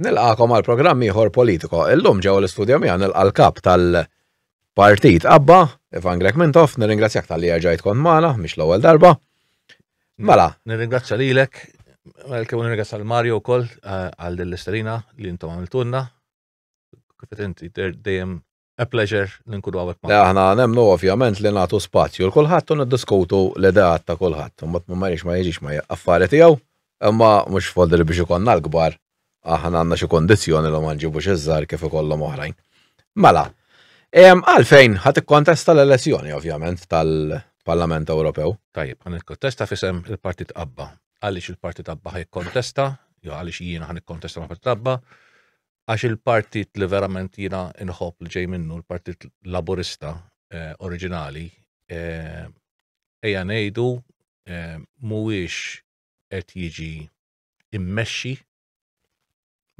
Nilqakom għal programm ieħor Politico. Illum ġewwa l-istudjo miegħu nilqa' l-kap tal-Partit Abba, Ivan Grech Mintoff, nirringrazzjak tal-li erġajt kont magħna, mhix l-ewwel darba. Mela. Nirringrazzja lilek, kemm nirringrazzja l-Mario wkoll eh, għal din l-isterina li intom għamiltunna. Kif inti dejjem A pleasure li nkunu għawek ma. Aħna nemnu ovvjament li nagħtu spazju l kulħadd u niddiskutu l-ideat ta' kulħadd. Imbagħad ma marix ma jiġix ma affari tiegħu, imma mhux fodri biex ikollna l-kbar aħna għandna xi kondizzjoni li ma nġibux iż-żgħar kif ikollhom oħrajn. Mela, għalfejn ħadd ikkontesta l-elezzjoni ovvjament tal-Parlament Ewropew. Tajjeb, ħan ikkontesta fisem il-Partit Abba. Għaliex il-Partit Abba ħaj kontesta, jew għaliex jiena ħan ikkontesta ma' Partit Abba, għax il-partit li verament jiena inħobb li ġej minnu, l-partit laburista eh, oriġinali, eh, eja ngħidu eh, mhuwiex qed jiġi immexxi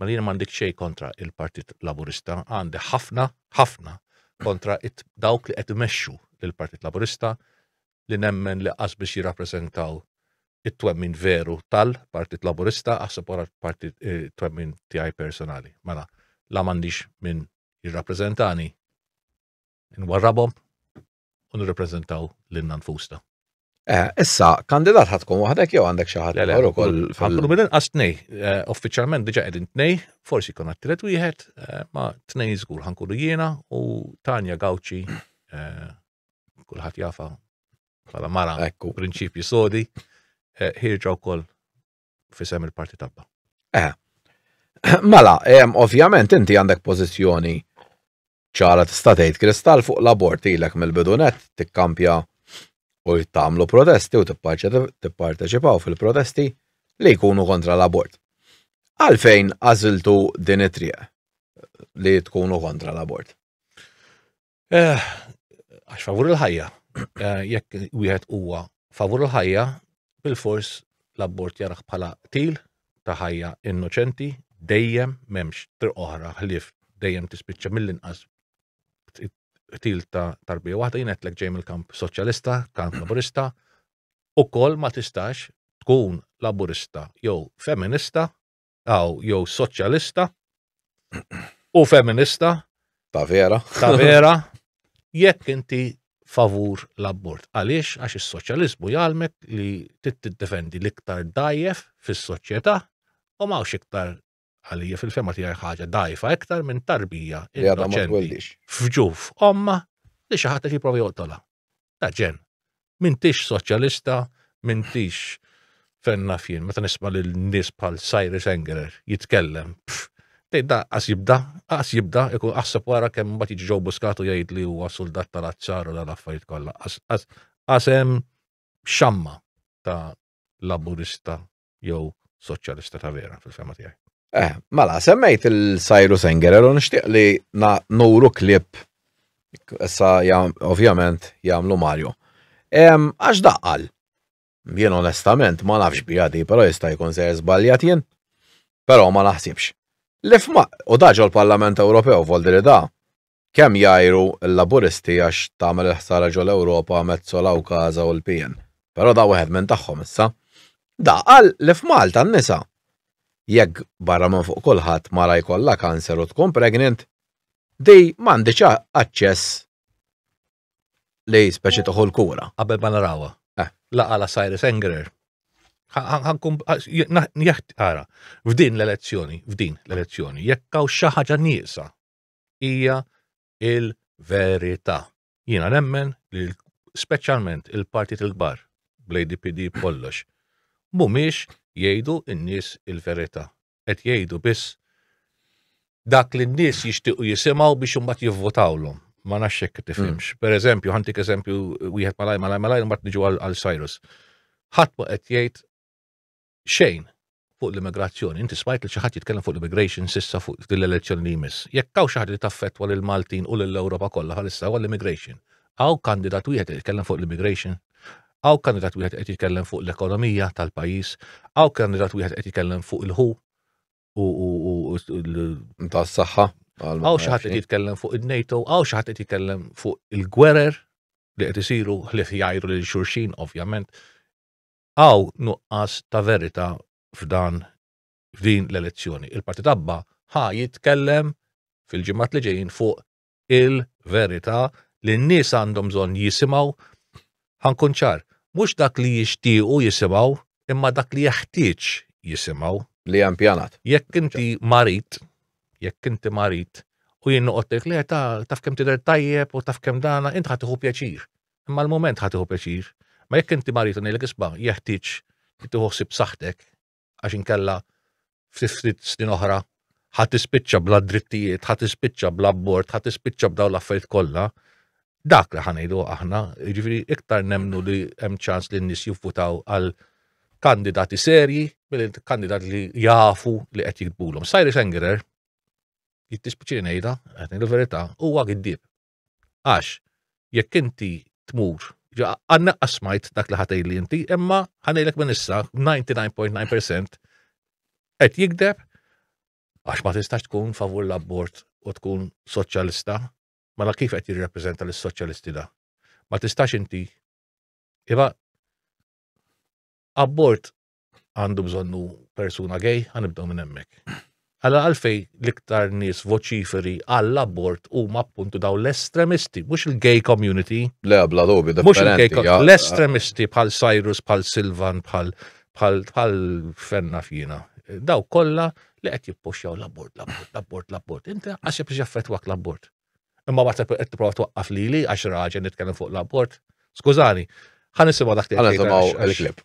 ma li m'għandek xejn kontra il-Partit Laburista, għandi ħafna, ħafna kontra dawk li qed imexxu il-Partit Laburista, li nemmen li qas biex jirrappreżentaw it-twemmin veru tal-Partit Laburista aħseb wara l-partit eh, twemmin tiegħi personali. Mela, la m'għandix minn jirrappreżentani nwarrabhom u nirrappreżentaw lil nfusna. Eh, issa, kandidat ħatkun waħdek jew għandek xi ħadd ieħor ukoll. Ħankunu minn inqas tnej, eh, uffiċjalment diġà qegħdin tnej, forsi jkun għattilet wieħed, eh, ma tnej żgur ħankunu jiena u Tanja Gawċi kulħadd jafa bħala mara ekku prinċipji sodi, eh, ħirġa wkoll fisem il-parti tabba. Eh. Mela, ovvjament inti għandek pożizzjoni ċara tista' tgħid kristall fuq l-abort ilek mill-bidunet tikkampja u jittamlu protesti u tipparteċipaw fil-protesti li jkunu kontra l-abort. Għalfejn għażiltu din it-triq li tkunu kontra l-abort? Eh, għax favur il-ħajja. Eh, jekk wieħed huwa favur il-ħajja, bil-fors l-abbort jaraħ bħala til ta' ħajja innoċenti, dejjem memx tr oħra ħlif dejjem tispiċċa mill-inqas til ta' tarbija waħda jien qedlek ġej mill-kamp soċjalista, kamp laburista, ukoll ma tistax tkun laburista jew feminista Aw, jew soċjalista u feminista. Ta' vera. Ta' vera. Jekk inti favur l-abort. Għaliex? Għax is-soċjaliżmu jgħalmek li tiddefendi l-iktar dajjef fis-soċjetà u mawx iktar għalija fil-fema tiegħi ħaġa dajfa iktar minn tarbija innoċenti. Fġuf omma li xi ħadd qed jipprova joqtolha. Aġen, m'intix soċjalista, m'intix fejn naf jien, meta nisma' lil nies bħal Cyrus Engerer jitkellem, pff, tgħid da qas jibda, qas jibda, ikun aħseb wara kemm imbagħad jiġi ġew buskatu jgħid li huwa suldat tal-azzar u l-affarijiet kollha. Qas hemm xamma ta' laburista jew soċjalista ta' vera fil-fema tiegħi. Eh, mela, semmejt il-Sajru Sengerer u nixtieq li nuru klip issa ovvjament jagħmlu Mario. Għax daqqal, jien onestament ma nafx bi għadi, però jista' jkun se żbaljat jien, però ma naħsibx. Lifma, u daġo l-Parlament Ewropew, voldi li da, Kemm jgħiru l-Laburisti għax tagħmel il-ħsara ġo l-Ewropa Metsola u Casa u l-PN. Però da wieħed minn tagħhom issa. Da qal li f'Malta n-nisa jekk barra minn fuq kulħadd mara jkollha cancer u tkun pregnant, di m'għandhiex aċċess li speċi tieħu l-kura. Qabel ma narawha. Eh. La qala Cyrus Engerer. Jaħt ara, f'din l-elezzjoni, f'din l-elezzjoni, jekk hawn xi ħaġa nieqsa hija l-verità. Jiena nemmen li speċjalment il-partijiet il-kbar bl-ADPD b'kollox mhumiex jgħidu n-nies il-verità. Qed jgħidu biss dak li n-nies jixtiequ jisimgħu biex imbagħad jivvotawlhom. Ma nafx hekk tifhimx. Mm. Pereżempju, ħantik eżempju wieħed malaj malaj malaj mbagħad niġu għal Cyrus. Ħadd ma qed jgħid xejn fuq l-immigrazzjoni. Inti smajt li xi ħadd jitkellem fuq l-immigration sissa fuq din l-elezzjoni li jmiss. Jekk hawn xi ħaġa li taffettwa lil Maltin u lil Ewropa kollha bħalissa huwa l-immigration. Hawn kandidat wieħed qed jitkellem fuq l-immigration. Hawn kandidat wieħed qed jitkellem fuq l-ekonomija tal-pajjiż. Hawn kandidat wieħed qed jitkellem fuq il-ħu u tas-saħħa. Hawn xi ħadd qed jitkellem fuq il-NATO, hawn xi ħadd qed jitkellem fuq il-gwerer li qed isiru ħlief jgħajru lil xulxin, ovvjament. Hawn nuqqas ta' verità f'dan f'din l-elezzjoni. Il-Partit Abba ħa jitkellem fil-ġimgħat li ġejjin fuq il-verità li n-nies għandhom bżonn jisimgħu ħankun ċar, mhux dak li jixtiequ jisimgħu imma dak li jeħtieġ jisimgħu. Li hemm pjanat. Jekk inti marid, jekk inti marid u jien noqgħod ngħidlek le ta' taf kemm tidher tajjeb u taf kemm dana, inti ħa tieħu pjaċir. Imma għall-mument ħa tieħu pjaċir. Imma jekk inti marid u ngħidlek isma' jeħtieġ li tieħu ħsieb saħħtek għax inkella ftit snin oħra ħa tispiċċa bla drittijiet, ħa tispiċċa bla abbord, ħa tispiċċa b'dawn l-affarijiet kollha, dak li ħanejdu aħna, jiġifieri iktar nemnu li hemm ċans li n-nies jivvutaw għal kandidati serji mill-kandidat li jafu li qed jitbulhom. Sajri Sengerer, jittispiċi ngħidha, qed ngħidu verità, huwa giddib. Għax, jekk inti tmur, għanna qasmajt dak li ħatej li inti, imma ħanejlek minn issa 99.9% qed jikdeb għax ma tistax tkun favur l-abbord u tkun soċjalista, ma mela la kif qed jirrappreżenta l-soċjalisti da. Ma tistax inti, iva, abbord għandu bżonnu persuna gej, għanibdaw minn emmek. Għalla għalfej l-iktar nis voċiferi għall-abort u appuntu daw l-estremisti, mux il-gay community. Le, bla dobi, da. Mux il-gay community, l-estremisti bħal Cyrus, bħal Silvan, bħal bħal fenna fjina. Daw kolla li għet jippoxjaw l-abort, l-abort, l-abort, l-abort. Inti għaxib biex jaffetwak l-abort. Imma għat għet t-prova twaqqaf li li għax raġen nitkellem fuq l-abort. Skużani, ħan nisimaw dak t-għalek. Ħan nisimaw l-klip.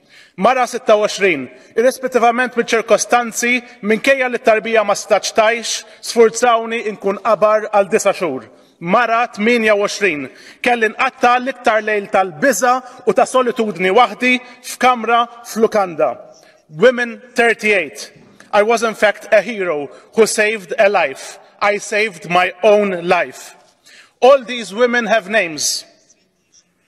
Mara 26, irrispettivament miċ-ċirkostanzi, minkejja li t-tarbija ma setgħetx tgħix, sfurzawni inkun qabar għal disa' xhur. Mara 28, kelli nqatta' l-iktar lejl tal-biża' u ta' solitudni waħdi f'kamra f'lukanda. Women 38, I was in fact a hero who saved a life, I saved my own life. All these women have names.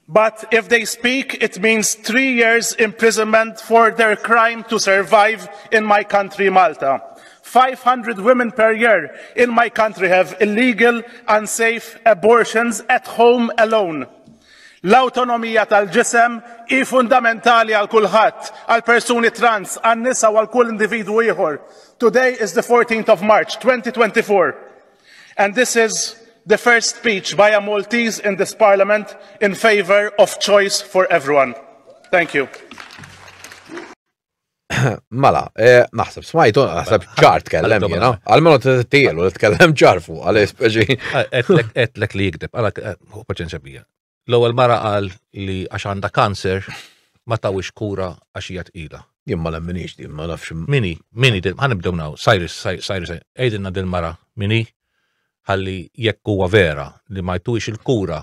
But if they speak, it means three years imprisonment for their crime to survive in my country, Malta. 500 women per year in my country have illegal, unsafe abortions at home alone. L-autonomija tal-ġisem hi fundamentali għal kulħadd, għal persuni trans, għan nisa u għal kull individwu ieħor. Today is the 14th of March 2024. And this is the first speech by a Maltese in this parliament in favour of choice for everyone. Thank you. Mela, eh, naħseb smajtu, naħseb ċar tkellem jena. Għalmenu t-tielu li tkellem ċar fuq, għal-espeċi. Etlek li jikdeb, għala, eh, paċenċa bija. L-ewwel mara qal li għax għandha kanser ma tawix kura għax hija tqila. Jien ma nemminix din, ma nafx. Mini, mini, ħanibdew naw, Cyrus, Cyrus, għidilna din mara, mini, ħalli jekk huwa vera li ma jtuwix il-kura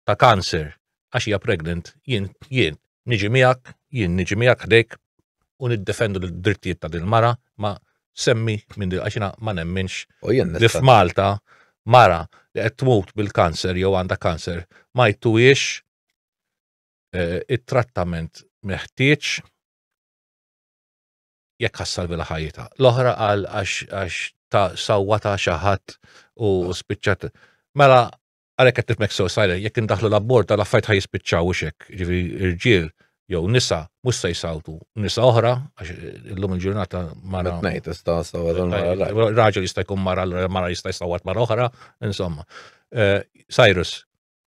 ta' kanser għax hija pregnant, jien, jien, niġi miegħek, jien niġi miegħek ħdejk u niddefendu l-drittijiet ta' din mara ma semmi minn din għaxina ma nemminx li f'Malta mara li qed tmut bil-kanser jew għandha kanser ma jtuwiex eh, it-trattament meħtieġ jekk ħassalvi la ħajjita. L-oħra għal għax ta' sawwa ta' xaħat u spiċċat. Mela Għalhekk qed nifmek sew sajler, jekk indaħlu l-abbord tal affajt ħaj jispiċċaw xek, ġifi irġiel jew nisa mhux se jsawtu nisa oħra għax illum il-ġurnata mara. Ngħid tista' raġel jista' jkun mara mara jista' jsawwat mara oħra, insomma. Eh, Cyrus,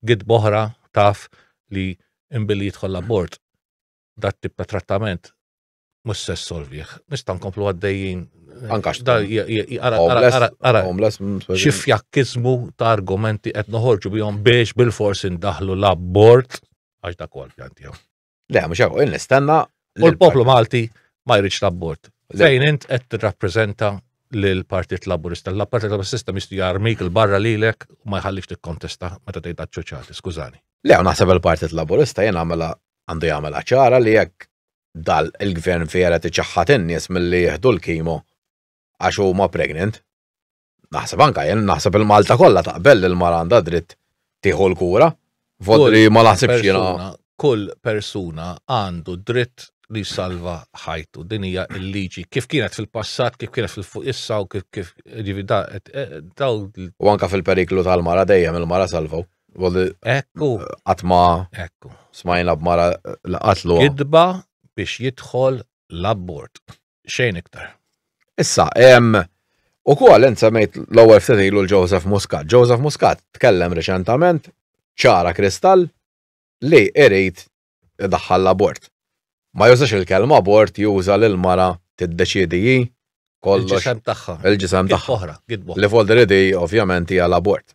gid boħra taf li imbilli jidħol l-abort dat tip ta' trattament mhux se solvih. Nista' nkomplu għaddejjin. Anka xi fjakkizmu ta' argumenti qed noħorġu bihom biex bil-fors indaħlu l-abbord għax dak huwa l-pjan tiegħu. Le, mhux hekk, nistenna. U l-poplu Malti ma jridx l-abbord. Fejn int qed tirrappreżenta l-Partit Laburista. L-Partit Laburista mistu jarmik il-barra lilek u ma jħallix tikkontesta meta tgħid ċoċati, skużani. Le, naħseb il-Partit Laburista jien għamela għandu jagħmel ċara li jekk Dal il-gvern fieret iċaħħad in-nies milli jieħdu l-kimo għax huma pregnant. Naħseb anke jien, naħseb il-Malta kollha taqbel li l-mara għandha dritt tieħu l-kura. Vot li ma naħsibx jiena. Kull persuna għandu dritt li jsalva ħajtu. Din hija l-liġi. Kif kienet fil-passat, kif kienet fil-fuq issa u kif kif ġivi da. U anke fil-periklu tal-mara dejjem il-mara salvaw. Għalli. Ekku. Għatma. Ekku. Smajna b'mara li qatlu. Gidba biex jidħol l-abbord. Xejn iktar. Issa, em, u kull insemmejt l-ewwel ftit ilu l-Joseph Muscat. Joseph Muscat tkellem reċentament ċara kristall li irid idaħħal l-abort. Ma jużax il-kelma abort juża li l-mara tiddeċiedi hi kollox. Il-ġisem tagħha. Il-ġisem tagħha. Oħra, Li folder id ovvjament hija l-abort.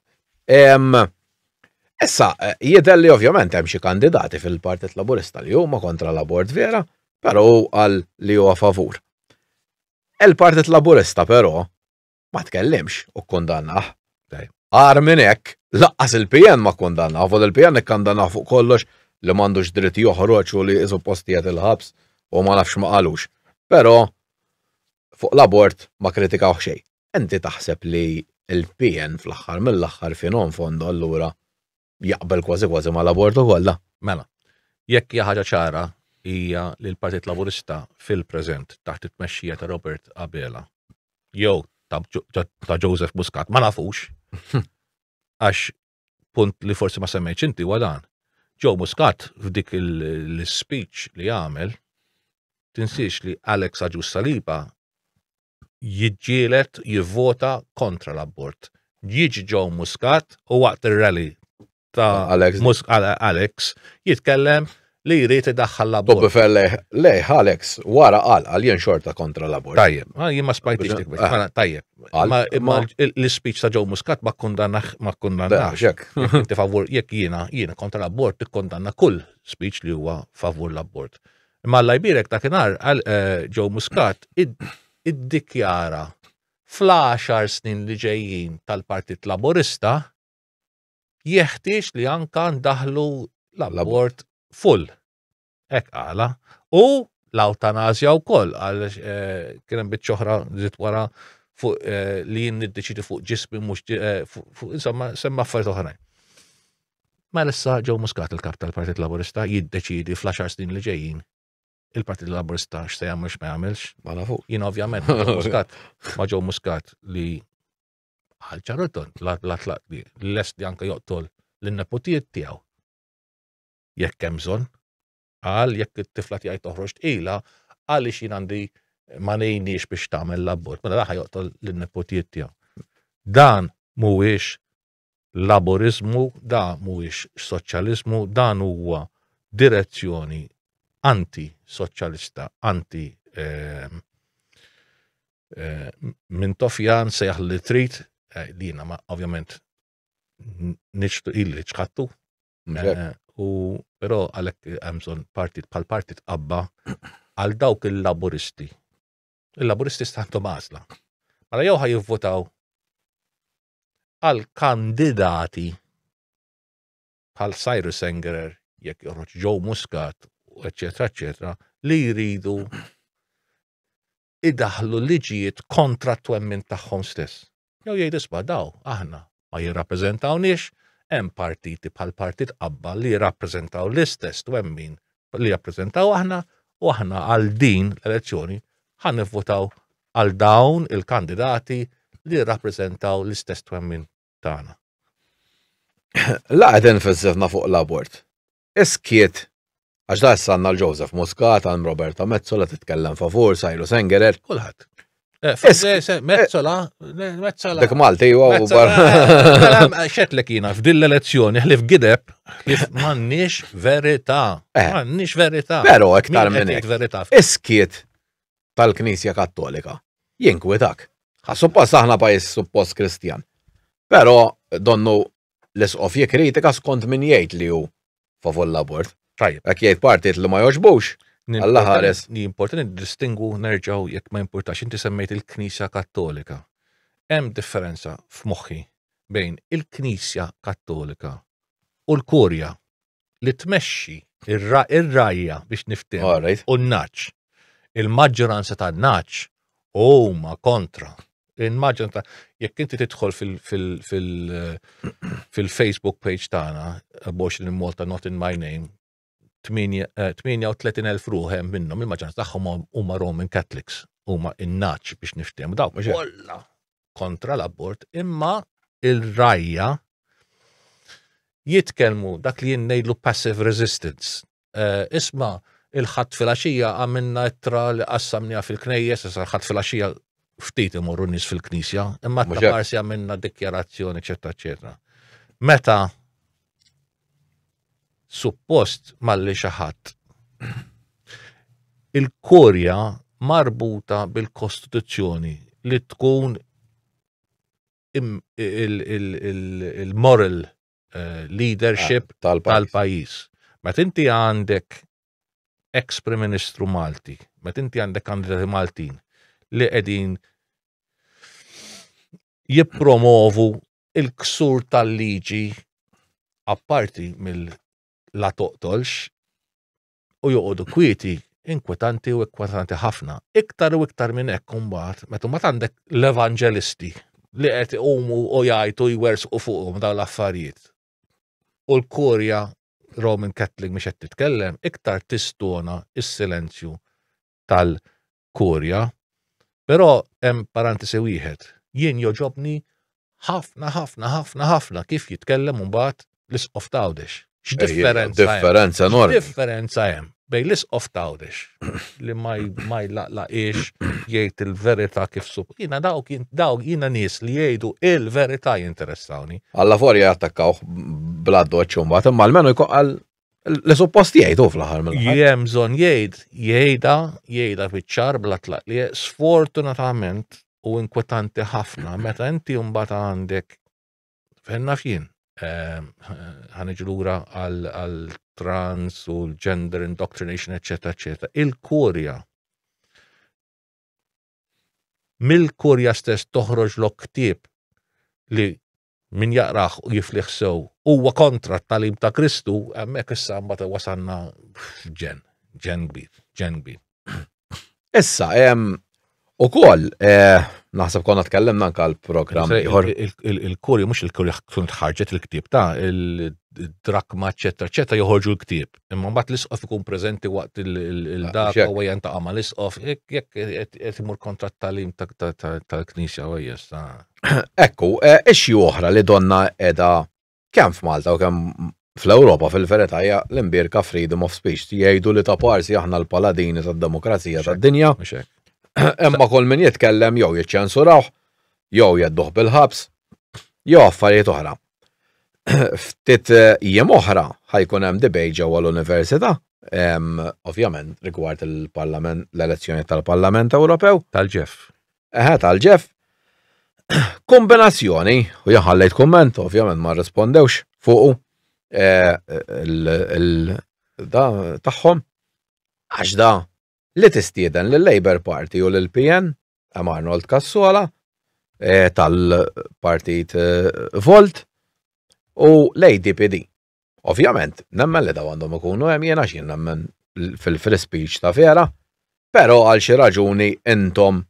Issa, eh, jidher li ovvjament hemm xi kandidati fil-Partit Laburista li huma kontra l-abort vera, però għal li huwa favur. Il-Partit Laburista però ma tkellimx u kondannah. Għar minn hekk, laqqas il-PN ma kondannah, vol il-PN ikkandannah fuq kollox li m'għandux dritt joħroġ u li isu postijiet il-ħabs u ma nafx ma qalux. Però fuq l-abort ma kritikawh xejn. Inti taħseb li l-PN fl-aħħar mill-aħħar fin fondo allura jaqbel kważi kważi ma' l-abortu kollha. Mela, jekk hija ħaġa ċara hija li l-Partit Laburista fil-preżent taħt it-tmexxija ta' Robert Abela jew ta' Joseph Muscat ma nafux għax punt li forsi ma semmejtx inti huwa dan. Joe Muscat f'dik l-speech li għamel tinsiex li Alex Aġus Saliba jiġġieled jivvota kontra l-abort. Jiġi ġew Muscat u waqt ir-rally ta' Alex. Alex jitkellem li jrid idaħħal l-abort. Tobbi felle, lej, Alex, wara qal għal jien xorta kontra l-abort. Tajjeb, ma jien ma spajtix dik biex. Mela, tajjeb. Ma imma l-speech ta' ġew Muscat ma kundanna ma kundanna. Xek. Inti favur jekk jiena jiena kontra l-abort tikkondanna kull speech li huwa favur l-abort. Imma Alla jbierek dakinhar Joe Muscat iddikjara fl-għaxar snin li ġejjin tal-Partit Laburista jeħtieġ li anka ndaħlu l-abort full. Hekk qala. U l-awtanazja wkoll għal eh, kien hemm biċċa oħra żied wara fuq eh, li jien niddeċidi fuq ġismi mhux eh, fuq insomma semma affarijiet oħrajn. Mela issa Joe Muscat il-kap tal-Partit Laburista jiddeċidi fl-10 snin li ġejjin il-Partit Laburista x'se jagħmel x'ma jagħmilx. Ma nafu. Jien ovvjament Muscat ma Joe Muscat li għal ċarroton la tlaq li lest li anke joqtol lin-neputijiet tiegħu. Jekk hemm bżonn, għal jekk it-tifla tiegħi toħroġ tqila, għaliex jien għandi ma nejniex biex tagħmel l-abbord, mela raħa joqtol lin-neputijiet tiegħu. Dan mhuwiex Laburiżmu, da mhuwiex soċjaliżmu, dan huwa direzzjoni anti-soċjalista, anti eh, eh, minn tofjan sejħ li trid, eh, li jiena ma ovvjament nixtu illi ċħattu, eh, u però għalhekk hemm bżonn partit bħal partit qabba għal dawk il-laburisti. Il-laburisti stantu mażla. Mela jew ħaj jivvotaw għal kandidati bħal Cyrus Engerer, jekk joħroġ Joe Muscat, eccetera, eccetera, li jridu idaħlu liġijiet kontra t-twemmin tagħhom stess. Jew jgħid isba' daw aħna ma jirrappreżentawniex hemm partiti bħal partit qabba li jirrappreżentaw l-istess twemmin li jappreżentaw aħna u aħna għal din l-elezzjoni ħan nivvotaw għal dawn il-kandidati li jirrappreżentaw l-istess twemmin tagħna. Laqgħet enfasizna fuq l-abort. Iskiet għax da sanna l-Joseph Muscat, għal Roberta Mezzola titkellem favur, Sajlu Sengerer, kulħadd. Mezzola, mezzola. Dak Malti, u barra. Xetlek jina, f'din l-elezzjoni, ħlif gideb, ħlif mannix verita. Eh. Mannix verita. Pero, ektar minn verita. Iskiet tal-Knisja Kattolika, jinkwitak. Suppost aħna pajis suppost Kristjan. Pero, donnu L-Isqof jikkritika skont min jgħid li hu favur l-abort. Tajjeb. Jekk jgħid partijiet li ma jogħġbux, Alla ħares. Importanti niddistingwu nerġgħu jekk ma jimpurtax, inti semmejt il-Knisja Kattolika. Hemm differenza f'moħħi bejn il-Knisja Kattolika u l-Kurja. li tmexxi ir-rajja biex niftem u n-naċ. Il-maġġoranza tan-naċ huma kontra. Il-maġġoranza jekk inti tidħol fil-Facebook page tagħna box li Malta not in my name 38,000 eh, ruħem minnhom il-maġġoranza tagħhom huma Roman Catholics huma in-naċ biex niftem dawk kollha kontra l-abort, imma il-rajja jitkelmu dak li jinnejdlu passive resistance. Uh, isma il-ħat fil-axija għamilna ittra li qassamnija fil-knejjes, issa l-ħat fil-axija ftit imorru nis fil-knisja, imma t-parsi għamilna dikjarazzjoni, eccetera, eccetera. Meta suppost malli xi ħadd. Il-korja marbuta bil-Kostituzzjoni li tkun il-moral eh, leadership ah, tal-pajjiż. Meta inti għandek ex Prim Ministru Malti, meta inti għandek kandidati Maltin li qegħdin jippromovu il-ksur tal-liġi apparti mill-la toqtolx u joqogħdu kwieti inkwetanti u inkwetanti ħafna. Iktar u iktar minn hekk imbagħad meta ma għandek l-evanġelisti li qed iqumu u jgħajtu jwersqu fuqhom dawn l-affarijiet. U l-kurja Roman Catholic mhix qed titkellem iktar tistona s-silenzju tal- kurja, però hemm parantesi wieħed. Jien joġobni ħafna ħafna ħafna ħafna kif jitkellem imbagħad l-isqof tawdex. X'differenza? Differenza nor. Differenza hemm bej l-isqof tawdex li ma jlaqlaqiex jgħid il-verità kif sup. Jiena dawk dawk jiena nies li jgħidu il-verità jinteressawni. Alla forja jattakkawh bla doċċ imbagħad imma almenu jkoqal Le suppost jgħid u fl-aħħar mill Jem bżonn jgħid, jgħidha, jgħidha fiċ-ċar bla tlaq li sfortunatament u inkwetanti ħafna meta inti mbagħad għandek fenna fien ehm, ħaniġu lura għal trans u l-gender indoctrination, eċetera, eċetera. Il-kurja mill-kurja stess toħroġ l-oktib li Min jaqrah u jiflih sew huwa kontra t-tagħlim ta' Kristu, hemmhekk issa mbagħad wasalna f'ġen, ġen kbir, ġen kbir. Issa, U koll, eh, naħseb konna tkellimna anka l-programm ieħor. Il-kuri, mux il-kuri tkun tħarġet il-ktib ta' il-drakma, ċetta, ċetta joħorġu l-ktib. Imma mbagħad l-isqof ikun preżenti waqt il-dak u għajan ta' għama l-isqof, jekk jekk imur kontra t-talim tal-knisja u jessa. Ekku, e, ixxi oħra li donna edha kemm f'Malta u kemm fl-Ewropa fil-verità hija l-imbierka freedom of speech. Jgħidu li ta' parsi aħna l-paladini tad-demokrazija tad-dinja. Imma kull min jitkellem jew jiċċensurawh, jew jedduh bil-ħabs, jew affarijiet oħra. Ftit e, jiem oħra ħajkun hemm debate ġewwa l-università ovvjament rigward il-Parlament, l-elezzjoni tal-Parlament Ewropew. Tal-ġef. Eħe tal-ġef. Kombinazzjoni, u jaħallejt komment, ovvjament ma rrispondewx fuqu eh, da tagħhom għax da li tistieden l labor Party u l pn hemm Arnold Kassola eh, tal-partit eh, Volt u l-ADPD. Ovvjament, nemmen li daw għandhom ikunu hemm jiena x'jien nemmen fil-free speech ta' vera, però għal xi raġuni intom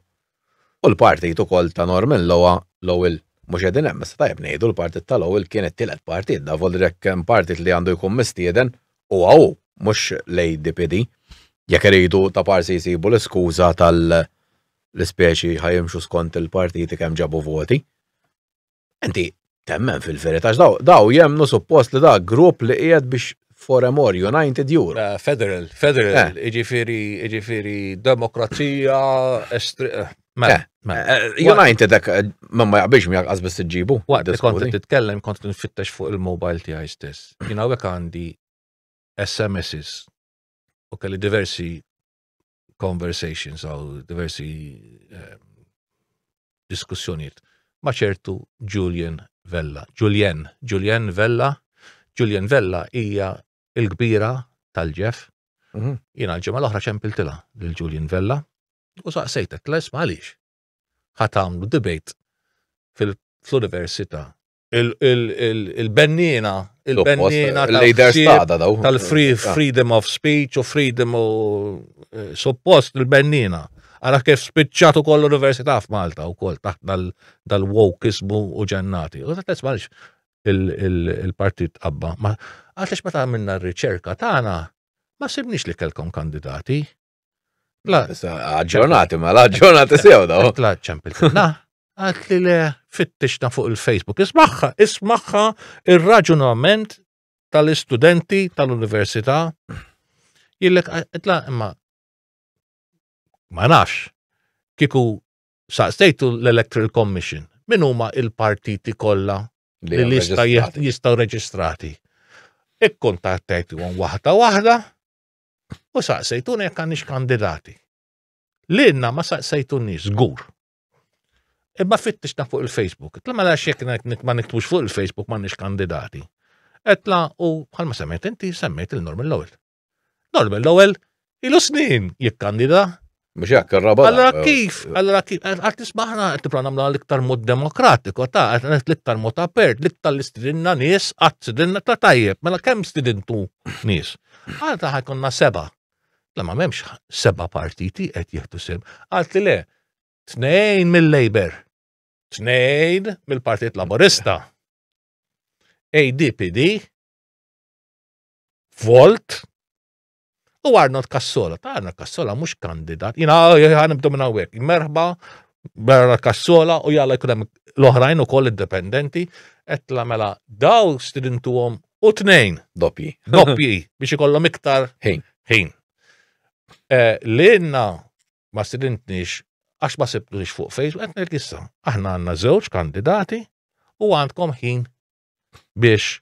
u l-partit ukoll ta' Norman Lowa l-ewwel mhux qegħdin hemm issa tajjeb ngħidu l-partit ta' l-ewwel kien it-tielet partit da volli jekk hemm partit li għandu jkun mistieden huwa hu mhux l-ADPD. Jekk iridu ta' parsi jsibu l-iskuża tal-ispeċi ħa jimxu skont il-partiti kemm ġabu voti. Inti temmen fil-verità daw jemnu suppost li da grupp li qiegħed biex for a more united Europe. Eh, federal, federal, eh. iġifiri, iġifiri, demokrazija, estri. Eh, mela, mela. United ek, ma ma jaqbix mi jaqas bis ġibu. Waqt li kont titkellem, kont nfittex fuq il-mobile tiegħi stess. Jina għek għandi SMSs u kelli diversi conversations għaw diversi eh, diskussjoniet ma ċertu Julian Vella. Julian, Julian Vella, Julian Vella hija il-kbira tal-ġef. Mhm. Jina l-ġemma l-oħra ċempiltila l-Julian Vella u saqsejtek, les għaliex? Ħatamlu debate fil-Università il-bennina, il-bennina tal-free ah. freedom of speech u freedom u eh, suppost il-bennina. Għara kif spiċċat u koll università f'Malta u koll taħt dal-wokismu u ġennati. U taħt esmax il-partit qabba. Għalix ma ta' minna r-riċerka tagħna ma sibniex li kelkom kandidati. Aġġornati, ma l-aġġornati sew daw. La ċempil. Na, għat li le fittixna fuq il-Facebook. Ismaħħa, ismaħħa il-raġunament tal-istudenti tal-università. Jillek, għatla, imma ma nafx, kiku saqsejtu l-Electoral Commission, min huma il-partiti kollha li jistgħu reġistrati. Ikkontattajtu għon waħda waħda, U saqsejtuna jekk għandix kandidati. Lilna ma saqsejtunix, żgur. Imma fittixna fuq il-Facebook. Tla ma mela xek ma niktbux fuq il-Facebook ma nix kandidati. Etla u bħalma semmejt inti semmejt il-Norman Lowell. Norman Lowell ilu snin jikkandida Mux jekk il-raba. Allora kif, allora kif, għat nismaħna għat nipra namla l-iktar mod demokratiko, ta' għat l-iktar mod apert, l-iktar l-istidinna nis, għat stidinna ta' tajjeb, mela kem stidintu nis. Għat ta' ħajkonna seba. La ma memx seba partiti għet jihtu sim. Għat li le, tnejn mill-Labor, tnejn mill-Partit Laborista, ADPD, Volt, U Arnold Kassola, ta' Arnold Kassola mhux kandidat, jina ħanibdu minn hawnhekk. Merħba Arnold Kassola u jalla jkun hemm l-oħrajn ukoll indipendenti qed tagħmela daw stidintuhom u tnejn doppji, doppji biex ikollhom iktar ħin. Ħin. Eh, li jenna ma stidintniex għax ma sibtux fuq Facebook, qed ngħid issa, aħna għandna żewġ kandidati u għandkom ħin biex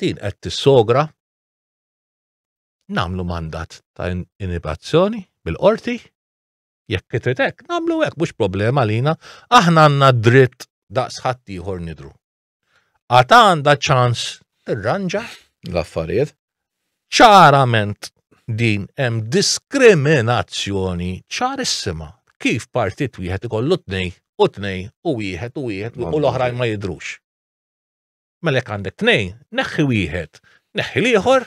din qed tissogra namlu mandat ta' inibazzjoni bil-qorti jekk titritek namlu hekk mhux problema lina aħna għandna dritt daqs ħadd ieħor nidru. Għata għandha ċans tirranġa l-affarijiet ċarament din hemm diskriminazzjoni ċarissima kif partit wieħed ikollu tnej u tnej u wieħed u wieħed u l-oħrajn ma jidrux. Mela jekk għandek tnejn, neħħi wieħed, neħħi l-ieħor,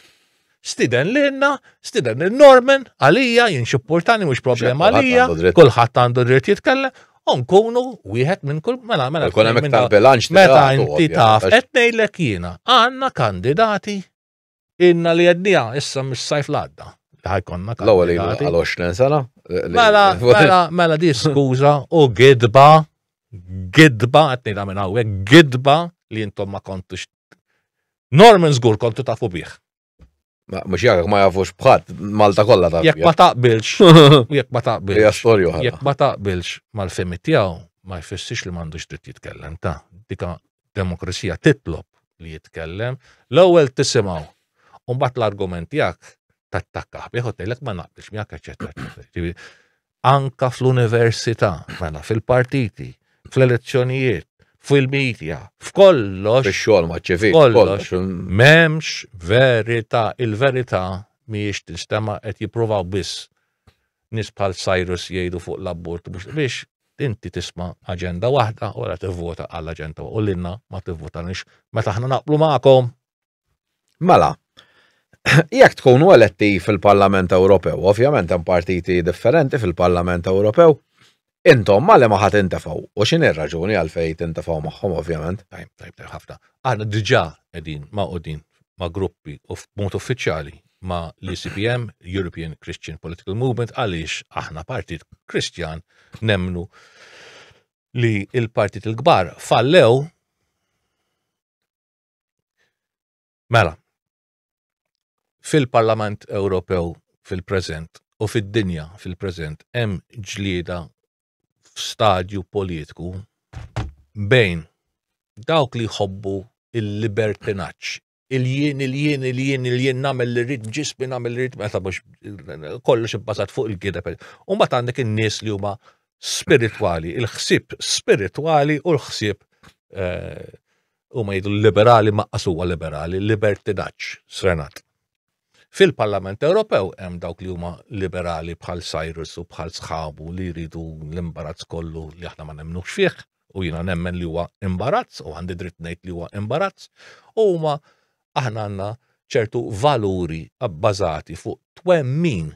stiden lilna, stiden lil Norman, għalija, jien xipportani mhux problema għalija, kulħadd għandu dritt jitkellem, u nkunu wieħed minn kull mela mela. Kun hemm iktar bilanċ meta inti taf qed ngħidlek jiena għandna kandidati Inna li għednija, issa mis sajf l-għadda. Ħajkonna kan. L-għol għal 20 sena. Mela, mela, mela di skuza u gidba, gidba, għatni da minna għek, gidba li jintom ma kontux. Norman zgur kontu tafu biħ. Mux jgħak ma jafux bħat, Malta kolla ta' Jek ma taqbilx, jek ma taqbilx. Jek storju Jek ma taqbilx mal-femi tijaw, ma jfessix li mandux dritt jitkellem ta' dika demokrazija titlob li jitkellem, l-ewwel tisimgħu. U mbagħad l-argument tiegħek tattakkaħ bih u tgħidlek ma naqbilx miegħek eċetera. Anka fl-università, mela fil-partiti, fl-elezzjonijiet, fil-medja, f'kollox. Fix-xogħol ma' ċivil. Kollox. M'hemmx verità, il-verità mhijiex tinstema' qed jippruvaw biss nies bħal Cyrus jgħidu fuq l-abort mhux biex inti tisma' aġenda waħda u wara tivvota għal aġenda u lilna ma tivvotanix meta aħna naqblu magħkom. Mela, jekk tkunu eletti fil-Parlament Ewropew, ovvjament hemm partiti differenti fil-Parlament Ewropew, Intom ma li ma ħadd intefgħu u x'inhi r-raġuni għalfejn tintefgħu magħhom ovvjament. Tajb, tajb, tajb ħafna. Aħna diġà qegħdin magħqudin ma' gruppi u f'mod uffiċjali ma' l-ECPM, European Christian Political Movement, għaliex aħna partit Kristjan nemnu li il-partit il-kbar fallew Mela, fil-Parlament Ewropew fil-preżent u fid-dinja fil-preżent hemm ġlieda f'stadju politiku bejn dawk li jħobbu il-libertinaġġ, il-jien, il-jien, il-jien, il-jien nagħmel li rrid ġismi nagħmel li rrid meta mhux kollox ibbażat fuq il-gideb. U mbagħad għandek in-nies li huma spiritwali, il-ħsieb spiritwali u l-ħsieb eh, huma jgħidu l-liberali maqqas huwa liberali, libertinaġġ srenat. Fil-Parlament Ewropew hemm dawk li huma liberali bħal Cyrus u bħal sħabu li jridu l-imbarazz kollu li aħna ma nemmnux fih u jiena nemmen li huwa imbarazz u għandi dritt ngħid li huwa imbarazz u huma aħna għandna ċertu valuri abbażati fuq twemmin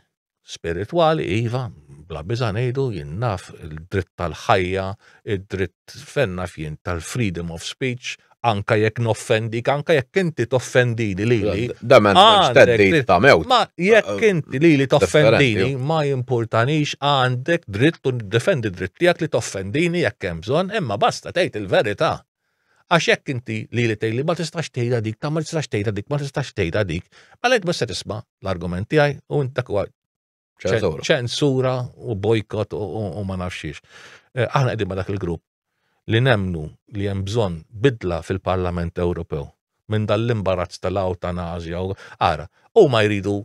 spiritwali, iva, bla biża ngħidu jien naf il-dritt tal-ħajja, id-dritt fejn naf jien tal-freedom of speech, anka jekk noffendik, anka jekk inti toffendini lili. Da men teddit ta' mewt. Ma jekk eh, inti lili toffendini ma jimpurtanix għandek dritt u defendi dritt tiegħek li toffendini jekk hemm bżonn, imma basta tgħid il-verità. Għax jekk inti lili tgħidli ma tistax tgħidha dik, ta' ma tistax tgħidha dik, ma tistax tgħidha dik, mela int ma se tisma' l-argument tiegħi u int dak huwa ċensura u bojkot u ma nafxiex. Eh, aħna qegħdin ma dak il-grupp li nemnu li hemm bżonn bidla fil-Parlament Ewropew minn dal-imbarazz tal-awtanazja u ara, u ma jridu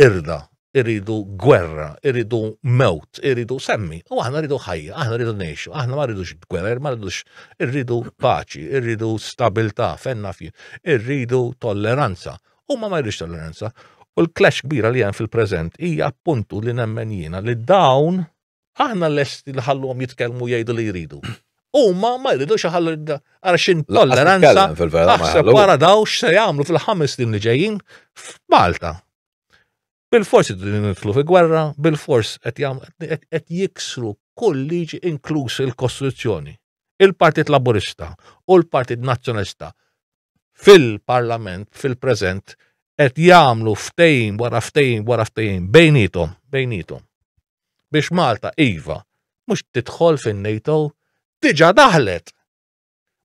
irda, iridu gwerra, iridu mewt, iridu semmi, u aħna rridu ħajja, aħna rridu nejxu, aħna ma rridux gwerra, ma rridux, irridu paċi, irridu stabilta, fenna fji, irridu tolleranza, u ma ma rridux tolleranza. U l-clash kbira li hemm fil-preżent hija appuntu li nemmen jiena li dawn aħna lesti nħalluhom jitkellmu jgħidu li jridu. Huma ma jridux iħallu għal xin tolleranza aħseb wara daw x'se jagħmlu fil-ħames snin li ġejjin f'Malta. Bil-fors nidħlu fi gwerra, bil-fors qed jiksru kull liġi inkluż il-Kostituzzjoni. Il-Partit Laburista u l-Partit Nazzjonalista fil-Parlament, fil-preżent, qed jagħmlu ftejn wara ftejn wara ftejn bejnietom, bejnietom. biex Malta iva mhux tidħol fin-NATO, diġa daħlet!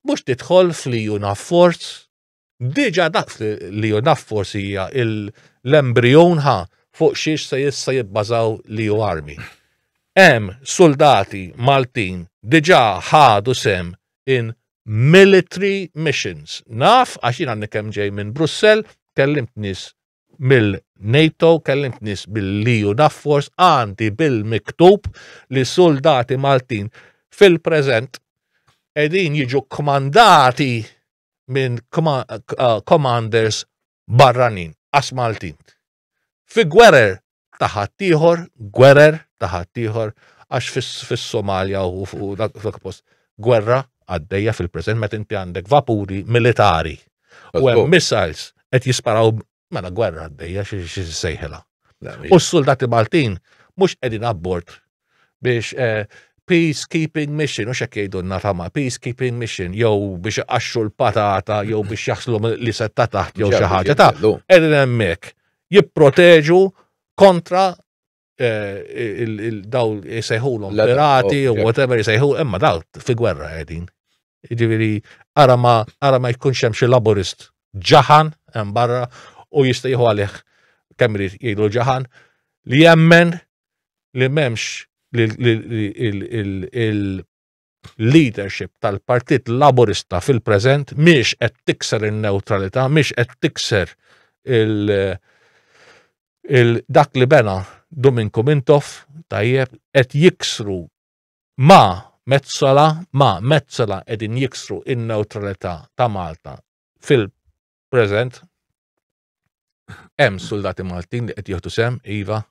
Mhux tidħol fl-EU Navforce, diġa daħlet l-EU Navforce hija l-embryon ħa fuq xiex se jissa jibbażaw l-EU Army. Hemm soldati Maltin diġa ħadu sem in military missions. Naf għax jiena kemm ġej minn Brussell kellimt nies mill-NATO, kellimt nis mill-EU Naffors, għandi bil-miktub li soldati Maltin fil-prezent edin jiġu kmandati minn eh, commanders barranin, as Maltin. Fi gwerer ta' ħaddieħor, gwerer ta' ħaddieħor, għax fis-Somalja u fuq dak post gwerra għaddejja fil-preżent meta inti għandek vapuri militari u hemm missiles qed jisparaw mela gwerra għaddejja xi sejħela. U s-soldati Maltin mhux qegħdin abbord biex eh, peacekeeping mission, u xek jgħidunna tama, peacekeeping mission, jew biex iqaxxu l-patata, jew biex jaħslu li setta taħt, jew xi ħaġa ta' edin hemmhekk jipproteġu kontra eh, daw jisejħulhom pirati u whatever jisejħu, imma daw fi gwerra qegħdin. Jiġifieri ara ma ara ma jkunx hemm xi laburist ġaħan hemm barra u jista' jieħu għalih kemm irid jgħidu ġaħan li jemmen li m'hemmx il-leadership tal-Partit Laburista fil-preżent miex qed tikser in-neutralità, miex qed tikser il- dak li bena Dominko Mintoff tajjeb qed jiksru Ma, Metsola, ma, Metsola qegħdin jiksru in-newtralità ta' Malta fil-preżent. Hemm suldati Maltin li qed jieħdu sem, iva,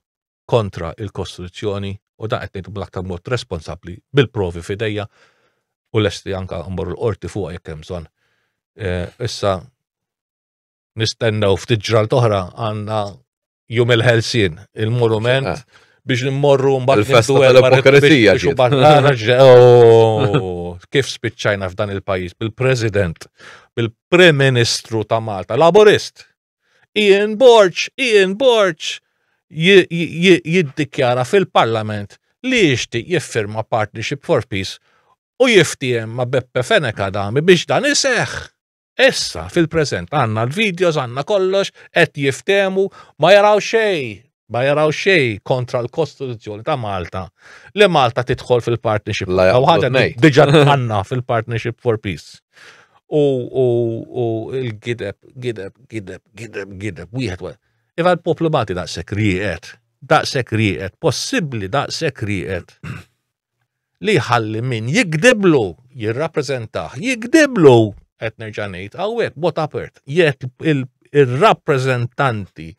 kontra il-Kostituzzjoni u dan qed ngħidu bl-aktar mod responsabbli bil-provi fidejja u lesti anka mmorru l-qorti fuq jekk hemm bżonn. Eh, issa nistennew ftit ġralt oħra għandna jum il-ħelsin, il-monument eh. biex nimmorru mbagħad il-festa tal-ipokrizija biex barrara oh, kif spiċċajna f'dan il-pajjiż bil-President, bil-Prim Ministru ta' Malta, Laborist. Ian Borċ, Ian Borċ jiddikjara fil-Parlament li jixtieq jiffirma Partnership for Peace u jiftiem ma' Beppe Feneka dami biex dan iseħħ. Issa, fil-preżent, għandna l-videos, għandna kollox, qed jiftemu, ma jaraw xej, ma jaraw xej kontra l-Kostituzzjoni ta' Malta li Malta tidħol fil-partnership. La ħaġa diġa għanna fil-partnership for peace. U, u, u il-gideb, gideb, gideb, gideb, gideb, wieħed wieħed. Iva l-poplu Malti daqshekk rieqed, daqshekk rieqed, possibbli daqshekk rieqed. li jħalli min jikdiblu jirrappreżentah, jikdiblu qed nerġa' ngħid hawnhekk bot apert jekk ir-rappreżentanti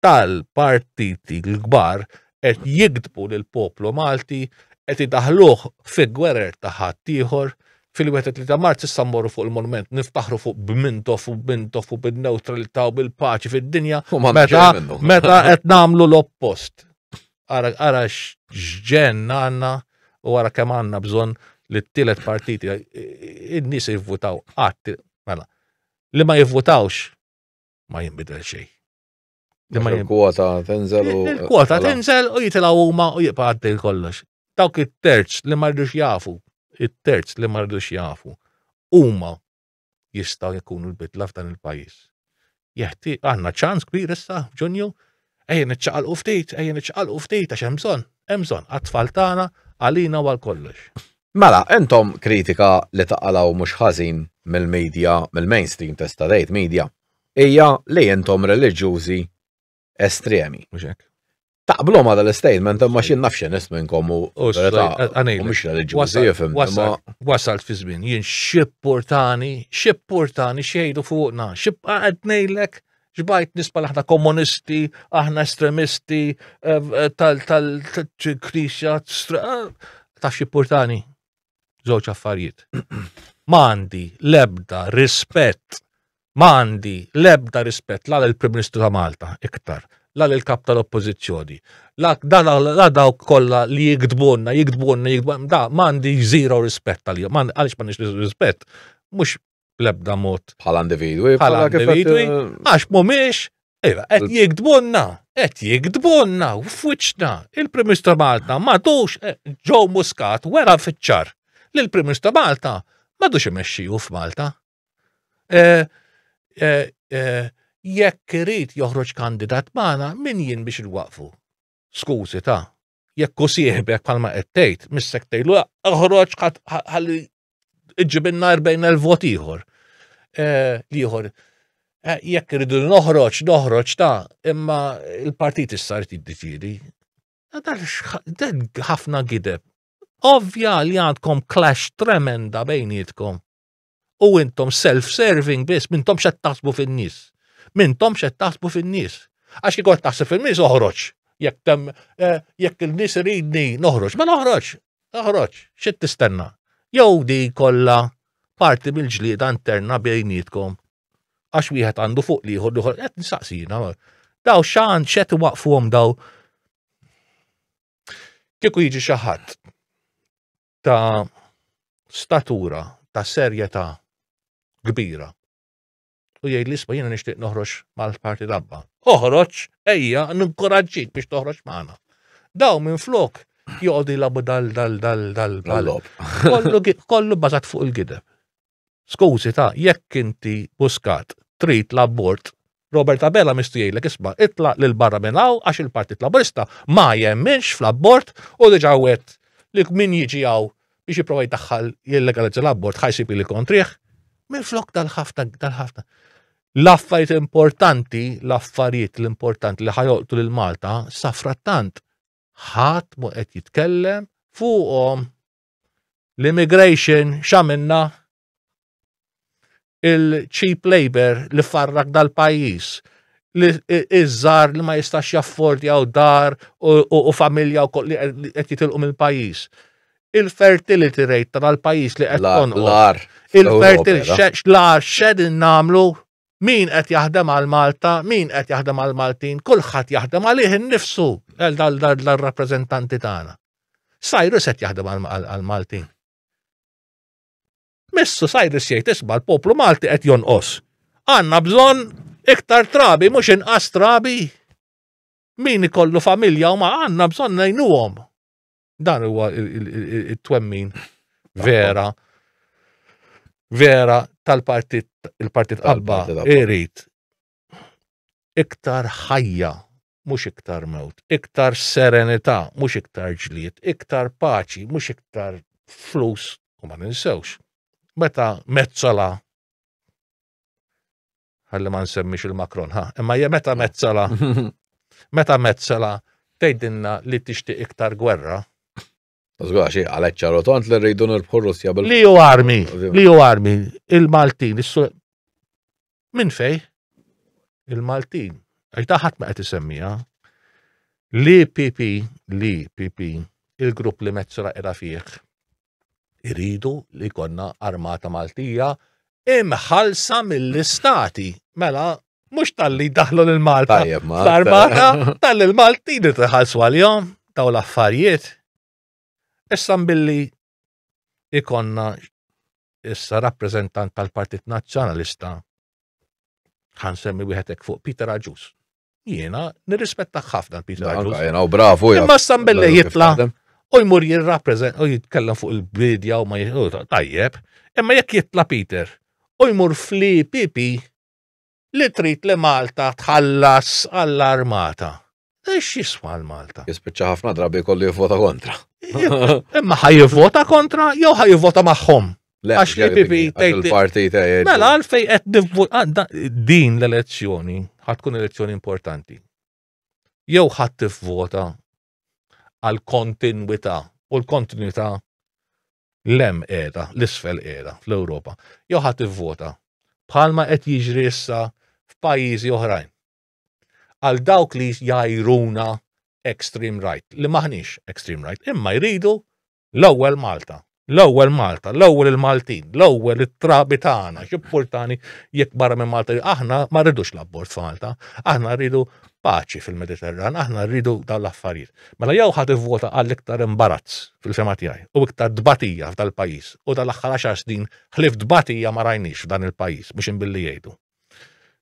tal-partiti l-kbar qed jikdbu lil poplu Malti qed idaħluh fi gwerer ta' ħaddieħor fil-wieħed ta' Marz issa mmorru fuq il-monument niftaħru fuq b'Mintoff u b'Mintoff u bin-neutralità u bil-paċi fid-dinja meta meta qed nagħmlu l-oppost. Ara, ara xġen għanna u għara kemm għanna bżon li t-tielet partiti, id-nis jivvutaw għat, mela, li ma jivvutawx ma jimbidel xej. Li ma jivvota tenzel u. Il-kwota mela. tenzel u jitilaw huma u jibqa' għaddej kollox. Dawk it-terz li ma rridux jafu, it-terz li ma rridux jafu, huma jistgħu jkunu l-bidla f'dan il-pajjiż. Jeħti għandna ċans kbir issa f'Ġunju, ejja niċċaqalqu ftit, ejja niċċaqalqu ftit għax hemm bżonn, hemm bżonn għat-tfal tagħna, għalina u għal kollox. Mela, intom kritika li taqalaw mhux ħażin mill-media, mill-mainstream testa' tgħid media, hija li intom reliġjużi estremi. Mhux hekk. Taqblu ma dal-statement, imma xi nafx nis minnkom u mhux reliġjużi jifhem. Wasalt fi żmien jien xipportani, xipportani xejdu fuqna, xibqa' qed ngħidlek ġbajt nispa aħna komunisti, aħna estremisti eh, eh, tal-krisja, eh, ta' xipportani. żewġ affarijiet. Ma għandi l-ebda rispett, ma għandi l-ebda rispett la l-Prim Ministru ta' Malta iktar, la l-kap tal-oppożizzjoni, la dawk kollha li jiktbunna, jiktbunna, jiktbunna, da ma għandi zero rispett għalihom, għaliex ma nix rispett, mhux bl-ebda mod. Bħala individwi. Bħala individwi. Għax mumiex, ejra, iva, qed jikdbunna, qed jikdbunna, f'wiċċna, il-Prim Ministru Malta madux eh, ġew muskat wera fiċċar li l-Prim Ministru Malta madux imexxiju f'Malta. Eh, eh, jekk irid joħroġ kandidat magħna min jien biex il-waqfu. Skużi ta' jekk u sieħbek palma qed tgħid, missek tgħidlu oħroġ ħalli iġġibinna 40,000 vot ieħor. Eh, ieħor. Eh, jekk irridu noħroġ, noħroġ ta' imma il-partit issa rid jiddeċiedi. Ħafna gideb. Ovvja li għandkom clash tremenda bejnietkom. U intom self-serving biss, mintom xed taħsbu fin-nies. Mintom xed taħsbu fin-nies. Għax kikon taħseb fin-nies oħroġ. Jekk tem, eh, jekk il-nies ridni noħroġ, ma noħroġ. Noħroġ, xed tistenna. Jew di kollha parti mill-ġlieda interna bejnietkom. Għax wieħed għandu fuq liħor liħor, qed nsaqsina. Daw xan xed waqfuhom daw. Kieku jiġi xi ħadd ta' statura ta' serjetà kbira. U jgħid li isma' jiena nixtieq noħroġ mal-parti dabba. Oħroġ, ejja, ninkoraġġik biex toħroġ magħna. Daw minn flok jgħodi labu dal dal dal dal dal Kollu bażat fuq il-gideb. Skużi ta' jekk inti Muscat trid l-abort, Robert Abela mistu jgħidlek isma' itlaq lil barra minn hawn għax il-Partit Laburista ma jemminx fl-abort u diġà wegħed li min jiġi hawn biex jipprova jdaħħal jillegalizza l-abort ħa jsib ili kontrih. Minflok dal-ħafna dal-ħafna l-affarijiet importanti, l-affarijiet l-importanti li ħajolqtu lil Malta, safrattant ħadd mu qed jitkellem fuqhom. L-immigration x'għamilna? Il-cheap labor li farrak dal-pajjiż li iż-żar li ma jistax jaffordjaw dar u familja u li qed jitilqu mill-pajjiż. Il-fertility rate tal-pajjiż li qed tonqos. Il-fertility, l-ar xed namlu Min qed jaħdem għal Malta, min qed jaħdem għal Maltin, kulħadd jaħdem għalih innifsu dal-rappreżentanti tagħna. Cyrus qed jaħdem għal Maltin. Missu Cyrus jgħid isma' l-poplu Malti qed jonqos. Għandna bżonn iktar trabi mhux inqas trabi. Min ikollu familja u ma għandna bżonn ngħinuhom. Dan huwa it-twemmin vera vera tal-partit il-partit qabba irid iktar ħajja mhux iktar mewt, iktar serenità mhux iktar ġlied, iktar paċi mhux iktar flus u ma ninsewx. Meta mezzola Ħalli ma nsemmix il-Macron, ha. Imma hija meta mezzala, meta mezzala tgħidilna li tixtieq iktar gwerra. Żgura xi għalhekk ċaru tant li rridu nirbħu Russja bil. Li hu armi, li hu armi, il-Maltin, minn fej? Il-Maltin, għajta ħadd ma qed isemmija. Li PP, li PP, il-grupp li mezzala era fih Iridu li jkollna armata Maltija imħalsa mill-istati. Mela, mhux tal-li daħlu lil Malta. L-armata tal-li l-Malti li tħallsu għal-jom daw l-affarijiet. Issa billi ikonna issa rappreżentant tal-Partit Nazzjonalista ħan semmi wieħed fuq Peter Aġus. Jiena nirrispettaħ ħafna l-Peter Bartos. Jiena u bravu. Imma Sambelle jitla u jmur jirrappreżent u jitkellem fuq il-bidja u ma jitlu tajjeb. Imma jekk jitla Peter u jmur fli pipi li trid li Malta tħallas għall-armata. Ex jiswa l-Malta? Jispiċċa ħafna drabi kollu jivvota kontra. Imma ħaj jivvota kontra jew ħaj jivvota magħhom. Għax li PP tgħid. Parti tgħid. Mela għalfej qed nivvut ah, din l-elezzjoni ħad tkun elezzjoni importanti. Jew ħadd tivvota għal kontinwità u l-kontinwità lem qiegħda, l-isfel qiegħda fl-Ewropa. Jew ħadd tivvota bħalma qed jiġri issa f'pajjiżi oħrajn. Għal dawk li jajruna extreme right, li maħniex extreme right, imma jridu L-ewwel Malta, l-ewwel Malta, l-ewwel il-Maltin, l-ewwel it-trabi tagħna, x'importani jekk barra minn Malta. Aħna ma rridux l-abbord f'Malta, aħna rridu paċi fil-Mediterran, aħna rridu dawn l-affarijiet. Mela jew ħadd ivvota għal iktar imbarazz fil-fema tiegħi u iktar dbatija f'dal-pajjiż u dal-aħħar għaxar snin ħlif dbatija ma rajniex f'dan il-pajjiż mhux inbilli jgħidu.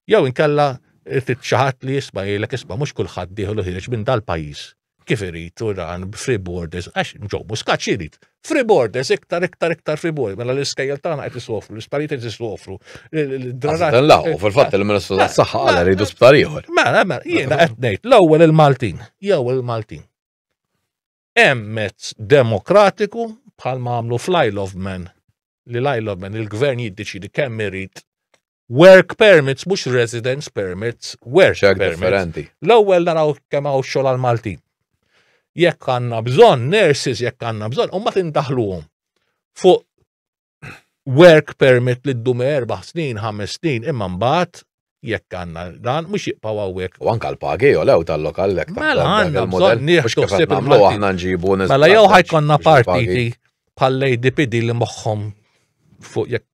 Jew inkella titxaħat li jisma' jgħidlek isma' mhux kulħadd dieħlu ħieġ minn dal-pajjiż kif irid u dan free borders, għax ġo muskat xirid. Free borders, iktar, iktar, iktar free borders, mela l-iskejjel tagħna qed isofru, l-isparijiet qed isofru. Dan laqgħu fil-fatt il-Ministru tas-Saħħa għal rridu sptar ieħor. Mela, mela, jiena qed ngħid l-ewwel il-Maltin, jew il-Maltin. Hemm mezz demokratiku bħal ma għamlu fl-Isle of Man li l-Isle of Man il-gvern jiddeċidi kemm irid Work permits, mhux residence permits, work Xek permits. differenti. L-ewwel naraw kemm hawn xogħol għal Maltin. Jekk għandna bżonn nurses, jekk għandna bżonn, u ma tindaħluhom fuq work permit li ddum erba' snin, ħames snin, imma mbagħad jekk għandna dan mhux jibqgħu hawnhekk. U anka l-pagi u lew tal-lokal lek ta' Mela għandna bżonn nieħdu ħsieb il-Maltin. aħna nġibu Mela jew ħajkonna partiti bħal-ADPD li moħħhom fuq jekk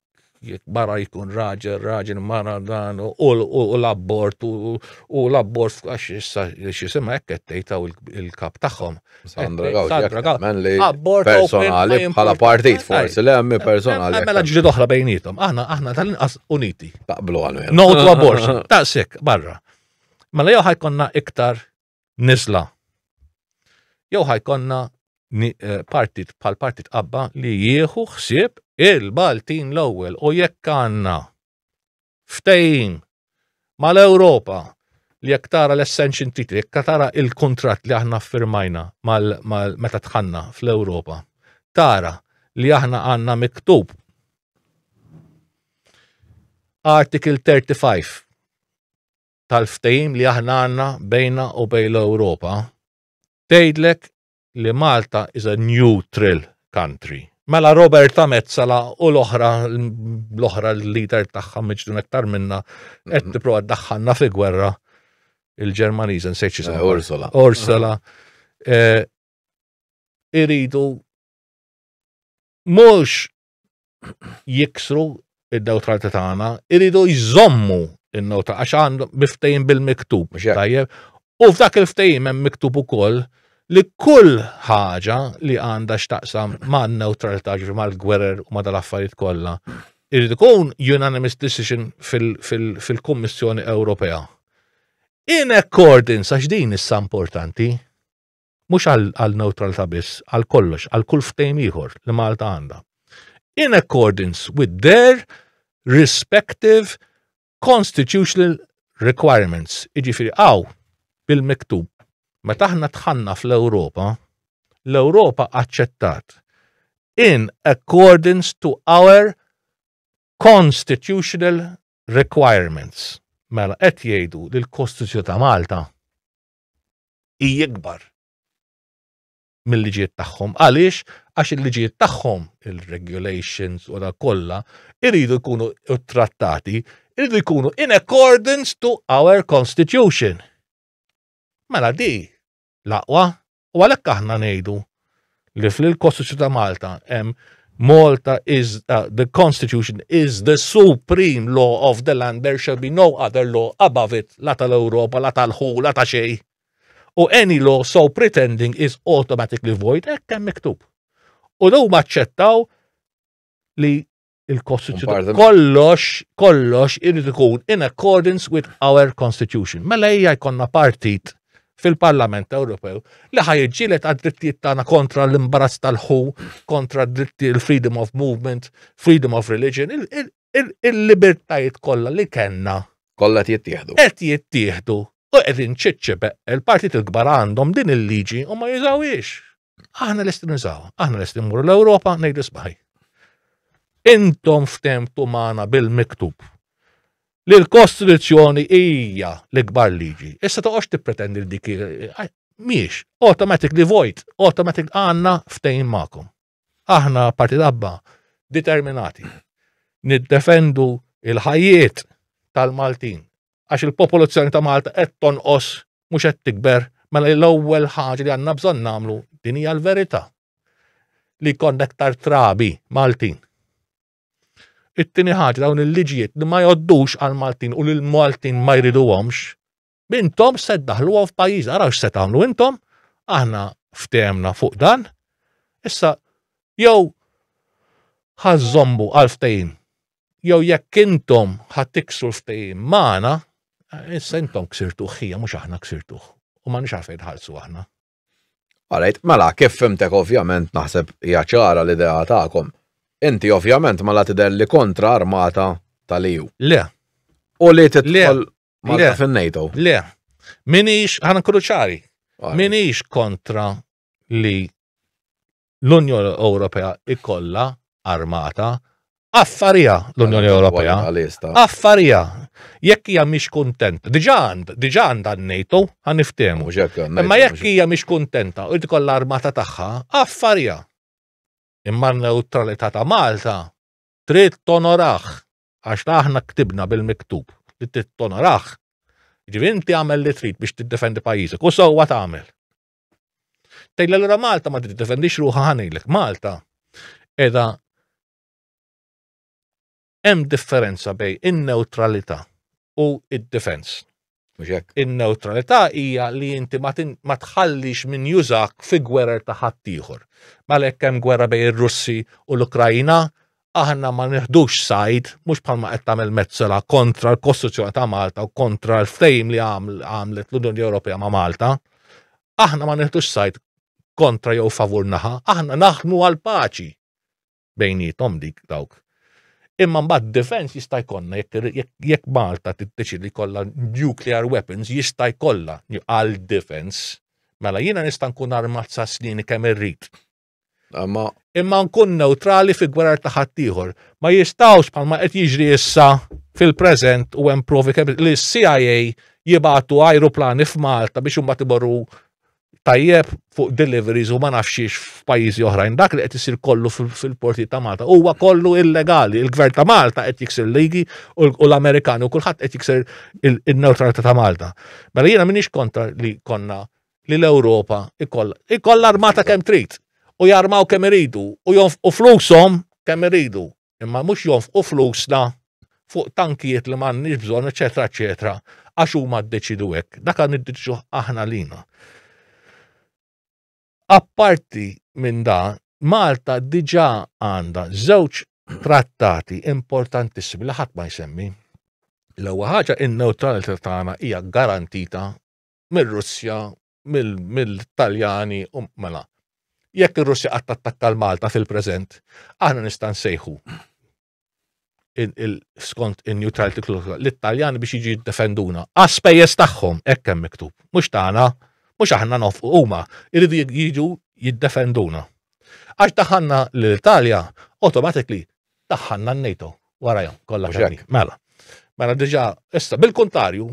jekk mara jkun raġel, raġel mara dan, u l-abbort, u l-abbort f'kax issa xisima hekk qed tgħidtaw il-kap tagħhom. Sandra Gawdi, abbort personali bħala partit forsi le hemm personali. Mela ġrid oħra bejnietom, aħna aħna tal-inqas uniti. Taqblu għal No to abortion, taqsek barra. Mela jew ħajkonna iktar nisla. Jew ħajkonna eh, partit bħal partit qabba li jieħu ħsieb il-Baltin l-ewwel u jekk għandna ftejn mal-Ewropa li jekk tara l-essenċin titi, jekk tara il-kontrat li aħna firmajna meta tħanna fl-Ewropa, tara li aħna għanna miktub Article 35 tal-ftehim li aħna għandna bejna u bejn l-Ewropa tgħidlek li Malta is a neutral country. Mela Roberta Mezzala u l-oħra l-oħra l-leader tagħha miġdun aktar minna qed tipprova ddaħħalna fi gwerra il-Ġermaniża nsejt xi eh, Ursula. Ursula. Eh, iridu mhux jiksru id-neutralta tagħna, iridu jżommu in-nota għax għandu biftejn bil-miktub. Tajjeb. U f'dak il-ftejn hemm miktub ukoll li kull ħaġa li għandha x'taqsam ma' neutralta ġifi mal-gwerer u ma' dal-affarijiet kollha. Irid ikun unanimous decision fil-Kummissjoni Ewropea. In accordance, għax din issa importanti, mhux għal neutralta biss, għal kollox, għal kull ftejm ieħor li Malta għandha. In accordance with their respective constitutional requirements, iġifiri għaw bil-miktub. Meta aħna tħanna fl-Ewropa, l-Ewropa aċċettat in accordance to our constitutional requirements. Mela qed jgħidu li l-Kostituzzjoni ta' Malta hi ikbar mill-liġijiet tagħhom. Għaliex? Għax il-liġijiet tagħhom, il-regulations u dak kollha, iridu jkunu trattati, iridu jkunu in accordance to our constitution. Mela di l-aqwa u għalhekk aħna ngħidu li fl-Kostituzzjoni ta' Malta hemm Malta is uh, the Constitution is the supreme law of the land there shall be no other law above it la tal-Ewropa la tal-ħu la ta' xej. U any law so pretending is automatically void hekk hemm miktub. U daw maċċettaw li il-Kostituzzjoni. Kollox, kollox irid ikun in accordance with our Constitution. Mela hija jkollna partit fil-Parlament Ewropew li ħajġilet għad-drittijiet tagħna kontra l-imbarazz tal-ħu, kontra d-dritti l-freedom of movement, freedom of religion, il-libertajiet kollha li kellna. Kollha qed jittieħdu. Qed jittieħdu. U qegħdin ċiċċebe il-partit il-kbar għandhom din il-liġi u ma jużawhiex. Aħna lesti nużaw, aħna lesti mmur l-Ewropa ngħidu sbaħi. Intom ftemtu magħna bil-miktub li l-Kostituzzjoni hija l-ikbar liġi. Issa toqgħodx tippretendi li dik miex, automatic li vojt, automatic għanna ftejn ma'kom. Aħna parti dabba determinati niddefendu il-ħajiet tal-Maltin għax il-popolazzjoni ta' Malta qed tonqos mhux qed tikber, mela l-ewwel ħaġa li għandna bżonn nagħmlu din hija l-verità li jkollna aktar trabi Maltin. It-tieni ħaġa dawn il-liġijiet li ma joddux għal Maltin u li l-Maltin ma jriduhomx, bintom se daħluhom f'pajjiż, araw x'se tagħmlu intom, aħna ftemna fuq dan, issa jew ħażżommu għal ftehim jew jekk intom ħadd tiksru l-ftehim magħna, issa intom ksirtu ħija mhux aħna ksirtu. U ma nix għalfejn ħalsu aħna. Għalajt, mela, kif fimtek ovvjament naħseb hija ċara l-idea tagħkom. Inti ovvjament mela tidher li kontra armata tal-EU. Le. U li titħol Malta fin-NATO. Le. Minix, ħana kruċari, minix kontra li l-Unjoni Ewropea ikolla armata, affarija l-Unjoni Ewropea. Affarija. Jekk hija mhix kuntenta, diġà għand, diġà għandha n-NATO, ħaniftehmu. Imma jekk hija mhix kuntenta u tkollha armata tagħha, affarija. Imma n-neutralità ta' Malta trid tonoraħ għax aħna ktibna bil-miktub li trid tonoraħ. Ġivinti għamel li trid biex tiddefendi pajjiżek u sewwa tagħmel. Tgħidli allura Malta ma trid defendix ruħha ħanejlek. Malta edha hemm differenza bej in-neutralità u id-defense. In-neutralità hija li inti ma tħallix min jużak fi gwerer ta' ħaddieħor. Malek hemm gwerra bej ir-Russi u l-Ukrajina, aħna ma nieħdux sajd, mhux bħalma qed tagħmel Mezzola kontra l-Kostituzzjoni ta' Malta u kontra l-ftehim li għamlet l-Unjoni Ewropea ma' Malta. Aħna ma nieħdux sajd kontra jew favur naħa, aħna naħdmu għal paċi bejnietom dik dawk. Imma mbagħad defense jista' jkollna jekk Malta tiddeċidi kollha nuclear weapons jista' jkollha għal defense. Mela jiena nista' nkun armat sa' snini kemm irrid Ma imma nkun neutrali fi gwerar ta' ħaddieħor. Ma jistawx bħalma qed jiġri issa fil-preżent u hemm provi kemm li s-CIA jibatu ajruplani f'Malta biex imbagħad iborru tajjeb fuq deliveries u ma nafxiex f'pajjiżi oħrajn. Dak li qed isir kollu fil-porti ta' Malta huwa kollu illegali. Il-gvern ta' Malta qed jiksir ligi u l-Amerikani u kulħadd qed jiksir il-neutralità ta' Malta. Mela jiena minix kontra li konna li l-Ewropa ikollha ikollha armata kemm trid u jarmaw kemm iridu u jonfqu flushom kemm iridu, imma mhux jonfqu flusna fuq tankijiet li m'għandniex bżonn eċetera eċetera għax huma ddeċiedu hekk. Dak niddeċiduh aħna lilna. Apparti minn dan, Malta diġà għandha żewġ trattati importantissimi li ħadd ma jsemmi. L-ewwel ħaġa in-newtralità tagħna hija garantita mir-Russja, mill-Taljani, u mela. Jekk ir-Russja qatt tattakka l-Malta fil-preżent, aħna nista' nsejħu skont in-neutrality clause l-Italjani biex jiġi jiddefenduna. Għaspejjeż tagħhom hekk hemm miktub, mhux tagħna, mhux aħna nofqu huma, iridu jiġu jiddefenduna. Għax daħanna l-Italja, automatically daħanna n-NATO warajhom kollha xek. Mela. Mela diġà issa bil-kuntarju,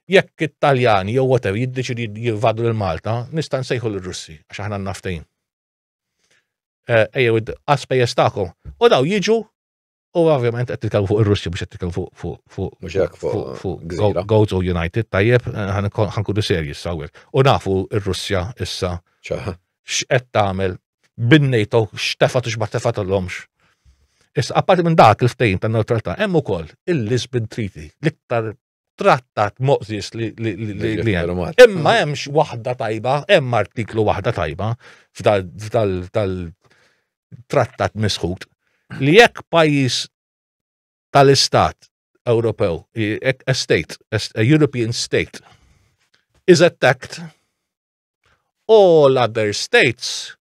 jekk it-Taljani jew whatever jiddeċidi jivadu lil Malta, nista' nsejħu l russi għax aħna naftejn. Eh, ejjew għaspejjeż tagħkom. U daw jiġu u ovvjament qed titkellmu fuq ir-Russi biex qed titkellmu fuq fuq fuq mhux hekk fuq Gozo United tajjeb eh, ħankunu serji sawwer. U nafu r-Russja issa x'qed tagħmel bin-NATO x'tefat u x'ma tefat l-omx. Issa apparti minn dak il-ftejn tan-neutralità hemm ukoll il-Lisbon Treaty l-iktar trattat moqżiex li Imma hemmx waħda tajba, hemm artiklu waħda tajba f'tal-trattat misħut li jekk pajjiż tal-istat Ewropew, a state, a European state, is attacked, all other states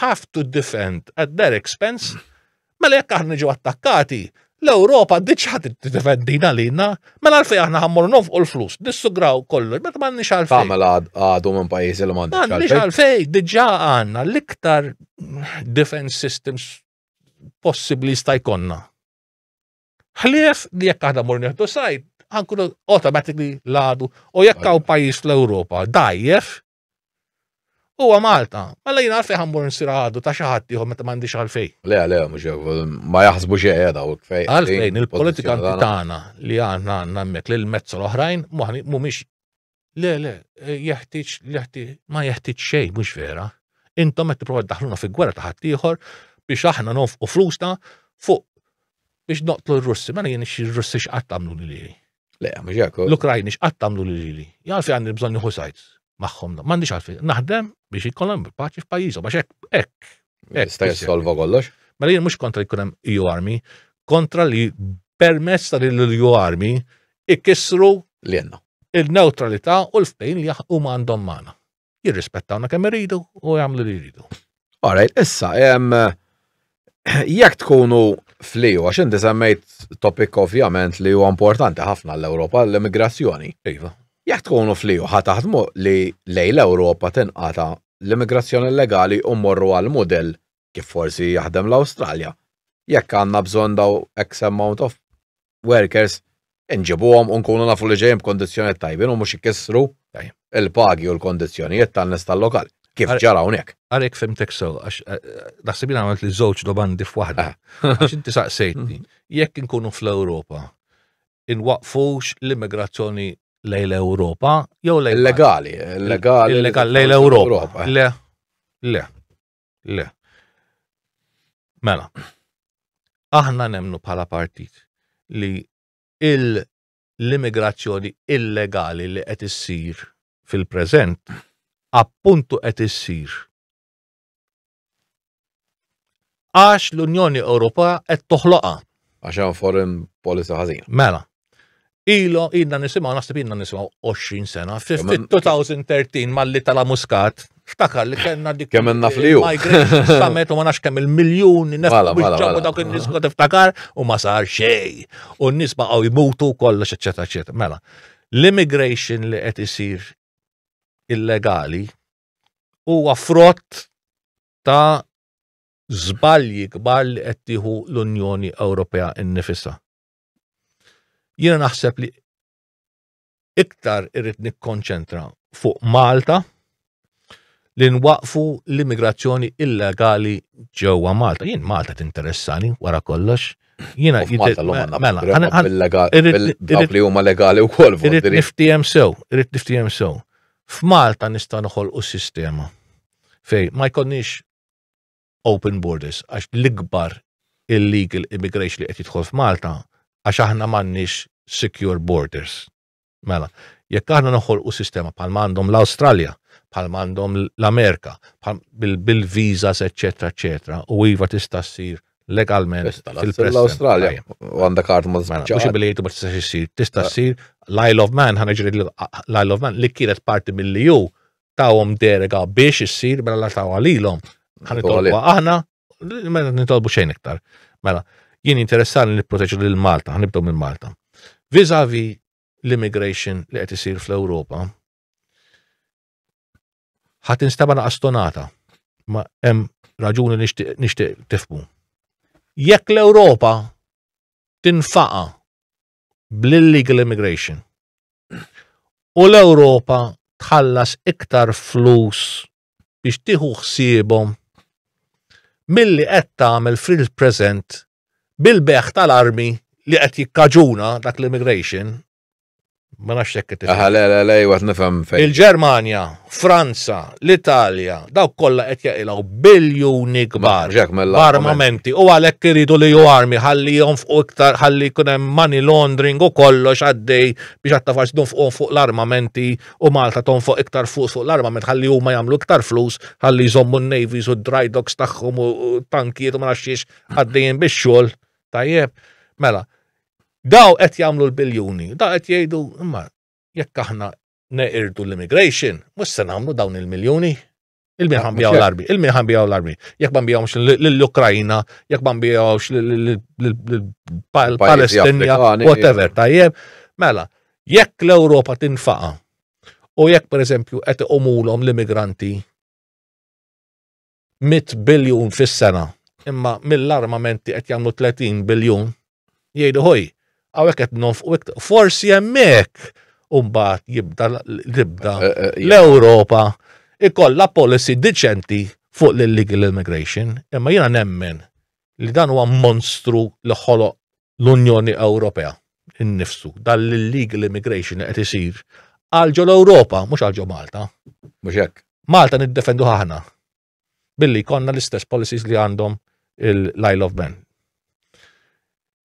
have to defend at their expense, mela jekk aħna ġew attakkati, l-Ewropa diċħa tiddefendina lina, mela għalfej aħna ħammur nofqu l-flus, dissugraw kollox, meta m'għandniex għalfej. Tagħmel mela għadu minn pajjiżi li m'għandniex għalfej. M'għandniex għalfej, diġà għandna l-iktar defense systems possibbli sta jkollna. Ħlief li jekk aħna mur neħdu sajd, ħankunu automatically ladu u jekk hawn pajjiż fl-Ewropa dajjef huwa Malta. Mela jien għalfej ħammur nsir għadu ta' xi ħadd ieħor meta m'għandix għalfej. Le, le, mhux ma jaħsbu xi qiegħda u kfej. Għalfejn il-politikanti tagħna li għandna għandna hemmhekk lil mezz l-oħrajn mhumiex Le, le, eh, jeħtieġ jeħtieġ ma jeħtieġ xejn mhux vera. Intom qed tipprova daħluna fi gwerra ta' ħaddieħor biex aħna nofqu flusna fuq biex noqtlu r-Russi, mela jien ir-Russi x'qatt tagħmlu li. Le, mhux hekk. L-Ukrajni x'qatt tagħmlu lili. Jgħalfi għandi bżonn nieħu sajt magħhom. M'għandix għalfi. Naħdem biex ikollhom paċi f'pajjiżhom għax hekk hekk Jista' jissolva kollox. Mela jien mhux kontra li jkun hemm EU Army, kontra li permezz ta' din l-EU Army ikissru li għandna il-neutralità u l-ftejn li huma għandhom magħna. Jirrispettawna kemm iridu u jagħmlu li jridu. Alright, issa jekk tkunu fliju, għax inti semmejt topik ovvjament li huwa importanti ħafna l-Ewropa l-immigrazzjoni. Iva. Jekk tkunu fliju ħa taħdmu li lej l-Ewropa tinqata l-immigrazzjoni illegali u mmorru għal mudell kif forsi jaħdem l-Awstralja. Jekk għandna bżonn daw X amount of workers, inġibuhom u nkunu nafu li ġejjin b'kondizzjonijiet tajbin u mhux ikissru l-pagi u l-kondizzjonijiet tan-nies tal-lokal, kif ġara hawnhekk. Ara jekk fhimtek sew, għax naħseb jien għamiltli żewġ domandi f'waħda. Għax inti saqsejtni, jekk inkunu fl-Ewropa, inwaqqfux l-immigrazzjoni lejn l-Ewropa jew lejn illegali, illegali illegali lejn l-Ewropa. Le, le, le. Mela, aħna nemnu bħala partit li l-immigrazzjoni illegali li qed issir fil-preżent appuntu qed issir Għax l-Unjoni Ewropea qed toħloqha. Għax hemm foreign policy ħażin. Mela. Ilo ilna nisimgħu naħseb ilna nisimgħu 20 sena. Fil-2013 malli tala muskat Ftakar li kellna dik. Kemm għandna fliju. Migration summit u ma nafx kemm il-miljuni nefqu dawk in-nies kont iftakar u ma sar xej. U n-nies baqgħu jmutu kollox eċetera eċetera. Mela, l-immigration li qed isir illegali huwa frott ta' żbalji kbar li qed tieħu l-Unjoni Ewropea nnifisha. Jiena naħseb li iktar irrid nikkonċentra fuq Malta li nwaqfu l-immigrazzjoni illegali ġewwa Malta. Jien Malta tinteressani wara kollox. Jiena mela, li huma legali wkoll. Irrid niftiehem sew, irrid niftiehem sew. F'Malta nistgħu noħolqu sistema fej ma jkonniex open borders għax l-ikbar illegal immigration li qed jidħol f'Malta għax aħna m'għandniex secure borders. Mela, jekk aħna noħolqu sistema bħal m'għandhom l-Awstralja, bħal m'għandhom l-Amerika, bil-visas, eċetera, eċetera, u iva tista' ssir legalment fil-Preston. L-Australia, u għanda kart ma zbċa. Mux biljetu ma tistax jissir, tista jissir, eh. l-Isle of Man, ħana ġiri l-Isle of Man, li kienet parti mill-EU, tawom derega biex jissir, mela la tawa li l-om. ħana tolbu aħna, mela nitolbu xejn iktar. Mela, jien interessan li proteġu l-Malta, ħanibdu minn Malta. Vizavi l-immigration li qed isir fl-Europa, Ħa tinstema' naqa' stonata. Ma hemm raġuni nixtieq tifmu. Jekk l-Ewropa tinfaqa bl-illegal immigration u l-Ewropa tħallas iktar flus biex tieħu ħsiebhom milli qed tagħmel fil-preżent bil-beħ tal-armi li qed jikkaġuna dak l-immigration Ma nafx jekk qed Aha, le, le, le, għat nifhem fejn. Il-Ġermanja, Franza, l-Italja, dawk kollha qed jaqilgħu biljuni kbar b'armamenti u għalhekk iridu li ju armi ħalli jonfqu iktar ħalli jkun hemm money laundering u kollox għaddej biex għatta faċ donfqu fuq l-armamenti u Malta tonfoq iktar fuq fuq l-armament ħalli huma jagħmlu iktar flus ħalli jżommu n-navies u d-dry docks tagħhom u tankijiet u ma nafx għaddejjin bix-xogħol tajjeb. Mela, Daw qed jagħmlu l-biljuni, daw qed jgħidu imma jekk aħna neqirdu l-immigration, mhux se nagħmlu dawn il-miljuni. Il-min ħambijaw l-armi, il-min ħambijaw l-armi. Jekk ma nbijawx l-Ukrajina, jekk ma nbijawx l-Palestinja, whatever, tajjeb. Mela, jekk l-Ewropa tinfaqa u jekk per eżempju qed iqumulhom l-immigranti 100 biljun fis-sena, imma mill-armamenti qed jagħmlu 30 biljun, jgħidu ħoj, għawek qed nofqu iktar. Forsi hemmhekk mbagħad jibda l-ibda eh, eh, eh, l-Ewropa ikollha policy diċenti fuq l-illegal immigration, imma jiena nemmen li dan huwa monstru li ħoloq l-Unjoni Ewropea innifsu dan l-illegal immigration qed isir għal ġol Ewropa mhux għal ġo Malta. Mhux hekk. Malta niddefendu ħahna billi konna l-istess policies li għandhom l-Isle of Man.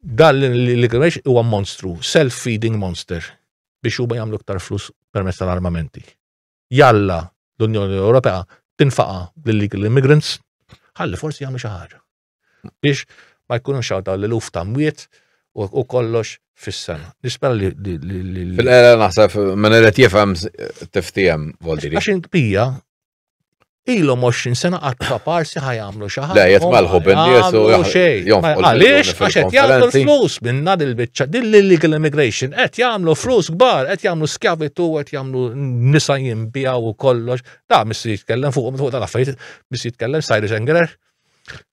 Dan l-Għimex huwa monstru, self-feeding monster, biex huma jagħmlu ktar flus permezz tal-armamenti. Jalla l-Unjoni Ewropea tinfaqa l-illegal immigrants, ħalli forsi jagħmlu xi ħaġa. Biex ma jkunux għaw daw l-luf ta' mwiet u kollox fis-sena. Nispera li. Fil-qera naħseb minn irid jifhem tiftijem voldiri. Għax inkbija ilhom 20 sena qatt ta' parsi ħajamlu xi ħaġa. Le jett malħu bin-nies u Għaliex għax qed jagħmlu flus minn dan il-biċċa din l-illegal immigration qed jagħmlu flus kbar, qed jagħmlu skjavitu, qed jagħmlu nisa jinbijaw u kollox. Da missi jitkellem fuq fuq tal-affarijiet, missi jitkellem Cyrus Engler.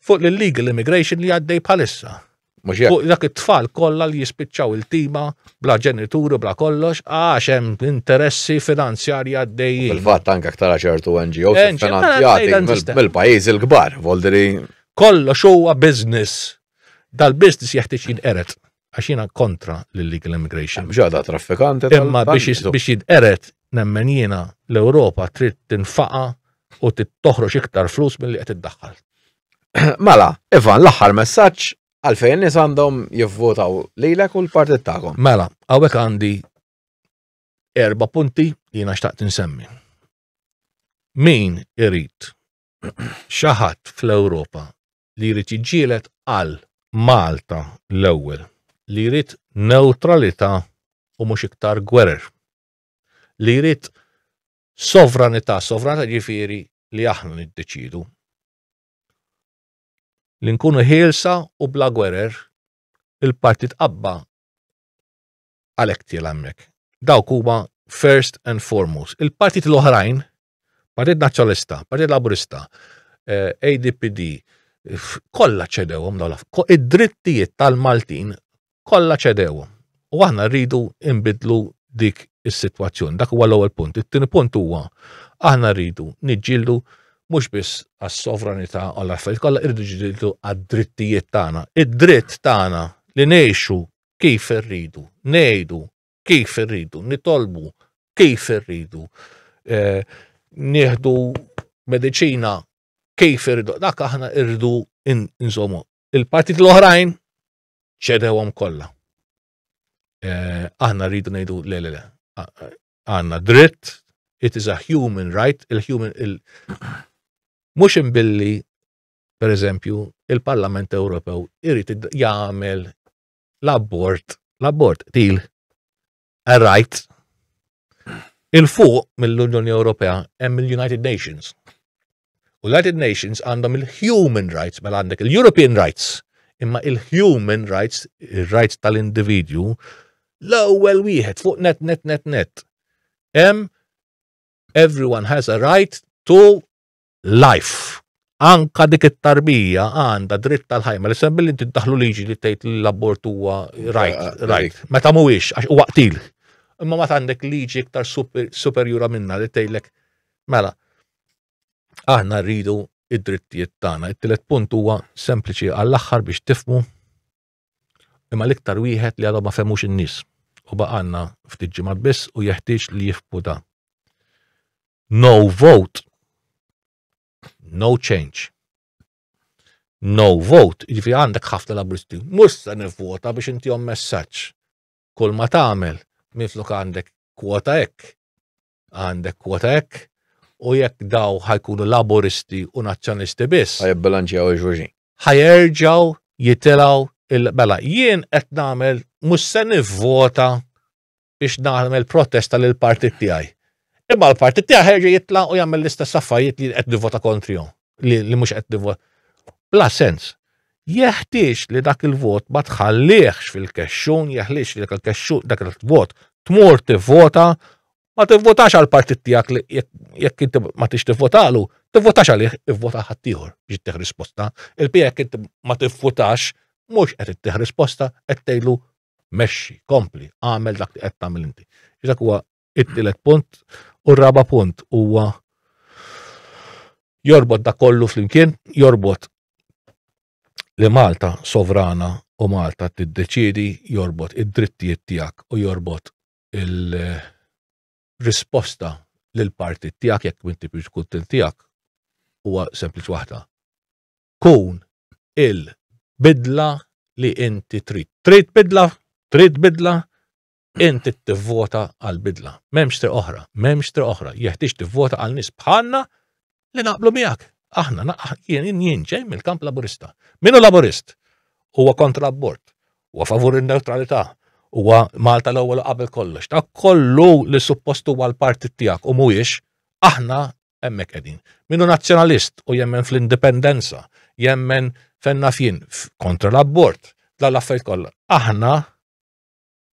Fuq l-illegal immigration li għaddej bħalissa. Mhux hekk. Fuq dak it-tfal kollha li jispiċċaw il-tima bla ġenituri bla kollox għax hemm interessi finanzjarji għaddejjin. Fil-fatt anke aktar ċertu NGOs NGO, mela, finanzjati dan tista'. mill- mill-pajjiżi l-kbar, voldri Kollox huwa business. Dal-business jeħtieġ jinqered. għax jiena kontra l-illegal immigration. Ġada traffikante. Imma biex jidqeret nemmen jiena l-Ewropa trid tinfaqa u toħroġ iktar flus mill-li qed iddaħħal. Mela, Ivan, l-aħħar messaġġ għalfejn nies għandhom jivvotaw lilek u l-partit tagħhom. Mela, hawnhekk għandi erba' punti jiena xtaqt insemmi. Min irid xaħat fl-Ewropa li jrid jiġġieled għal Malta l-ewwel, li jrid newtralità u mhux iktar gwerer, li jrid sovranità, sovranità ġifieri li aħna niddeċidu. Li nkunu ħielsa u bla gwerer, il-Partit Qabba għalhekk tiela' hemmhekk. Dawk huma first and foremost. Il-partit l-oħrajn, Partit Nazzjonalista, Partit Laburista, eh, ADPD, kollha ċedewhom dawn id-drittijiet tal-Maltin kollha ċedewhom. U aħna rridu imbidlu dik is-sitwazzjoni. Dak huwa l-ewwel punt. It-tieni punt huwa aħna rridu niġġieldu mhux biss għas-sovranità għal affarijiet kollha irridu ġdiltu għad-drittijiet tagħna. Id-dritt tagħna li ngħixu kif irridu, ngħidu kif irridu, nitolbu kif irridu, eh, nieħdu mediċina kif irridu, dak aħna irridu nżommu. Il-partit l-oħrajn ċedewhom kollha. Eh, aħna rridu ngħidu le le le. Għandna dritt, it is a human right, il-human il mhux imbilli per eżempju, il-Parlament Ewropew irid jagħmel l-abort, l-abort til a right il-fuq mill-Unjoni Ewropea hemm il-United Nations. U l-United Nations għandhom il-human rights, mela għandek il-European rights, imma il-human rights, il-rights tal-individwu, l-ewwel wieħed fuq net net net net. Hemm everyone has a right to life. Anka dik it-tarbija għandha dritt tal-ħajja, ma l-isem billi tiddaħlu liġi li tgħid li l-abort huwa right, ah, ah, right. Meta mhuwiex għax huwa qtil. Imma ma għandek liġi iktar superjura minna li tgħidlek mela aħna rridu id-drittijiet tagħna. It-tielet punt huwa sempliċi għall-aħħar biex tifmu imma l-iktar wieħed li għadhom ma femux in-nies u baqanna ftit ġimgħat biss u jeħtieġ li jifbu da. No vote, no change. No vote, jiġifieri għandek ħafna labristi, mhux se nivvota biex intihom messaġġ. Kull ma tagħmel minflok għandek kwota hekk, għandek kwota hekk, u jekk daw ħajkunu laboristi u nazzjonisti biss. Ħajibbilanċjaw il-ġuġin. Ħajerġaw jitilaw il-bela. Jien qed nagħmel mhux se nivvota biex nagħmel protesta lil partit tiegħi. Imma l-partit tiegħi ħerġa jitla' u jagħmel l-istess affarijiet li qed nivvota kontrihom. li, li mhux qed nivvot. Bla sens. Jeħtieġ li dak il-vot ma tħallihx fil-kexxun, jeħliex li dak il-kexxun dak il-vot tmur tivvota ma tivvotax għal partit tiegħek li jekk inti ma tix tivvotalu, tivvotax għalih ivvota ħaddieħor biex ittieħ risposta. Il-pija jekk inti ma tivvotax mhux qed ittieħ risposta qed tgħidlu mexxi, kompli, għamel dak li qed tagħmel inti. Dak huwa it-tielet punt u r-raba punt huwa jorbot da kollu flimkien, jorbot li Malta sovrana u Malta tiddeċidi jorbot id-drittijiet tiegħek u jorbot il-risposta lil parti tiegħek jekk minn tipix kuntent tiegħek huwa sempliċi waħda. Kun il-bidla li inti trid. Trid bidla, trid bidla, Int trid tivvota għal bidla. M'hemmx triq oħra, m'hemmx triq oħra. Jeħtieġ tivvota għal nies bħalna li naqblu miegħek. Aħna jien jien ġej mill-kamp Laburista. Minu Laburist? Huwa kontra abort, huwa favur in-neutralità, huwa Malta l-ewwel qabel kollox. Ta' kollu li suppost huwa l-partit tiegħek u mhuwiex, aħna hemmhekk qegħdin. Minu nazzjonalist u jemmen fl-indipendenza, jemmen fenna fien kontra l-abort, la l-affarijiet kollha. Aħna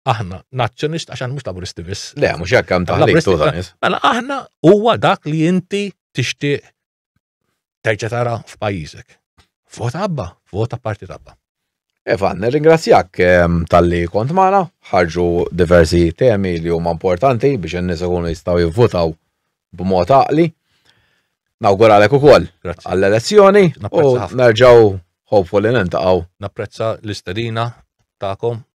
aħna nazzjonist għax mhux laburisti biss. Le, mhux hekk hemm taħlik tużanis. Mela aħna huwa dak li inti tixtieq terġa' tara f'pajjiżek. Vota abba, vota parti tabba. Evan, ringrazzjak ehm, tal-li kont maħna, ħarġu diversi temi li huma importanti biex n-nis ikunu jistaw jivvutaw b'mod għaqli. Nawguralek ukoll għall-elezzjoni u nerġaw hopefully nintaqgħu. Napprezza l-istedina tagħkom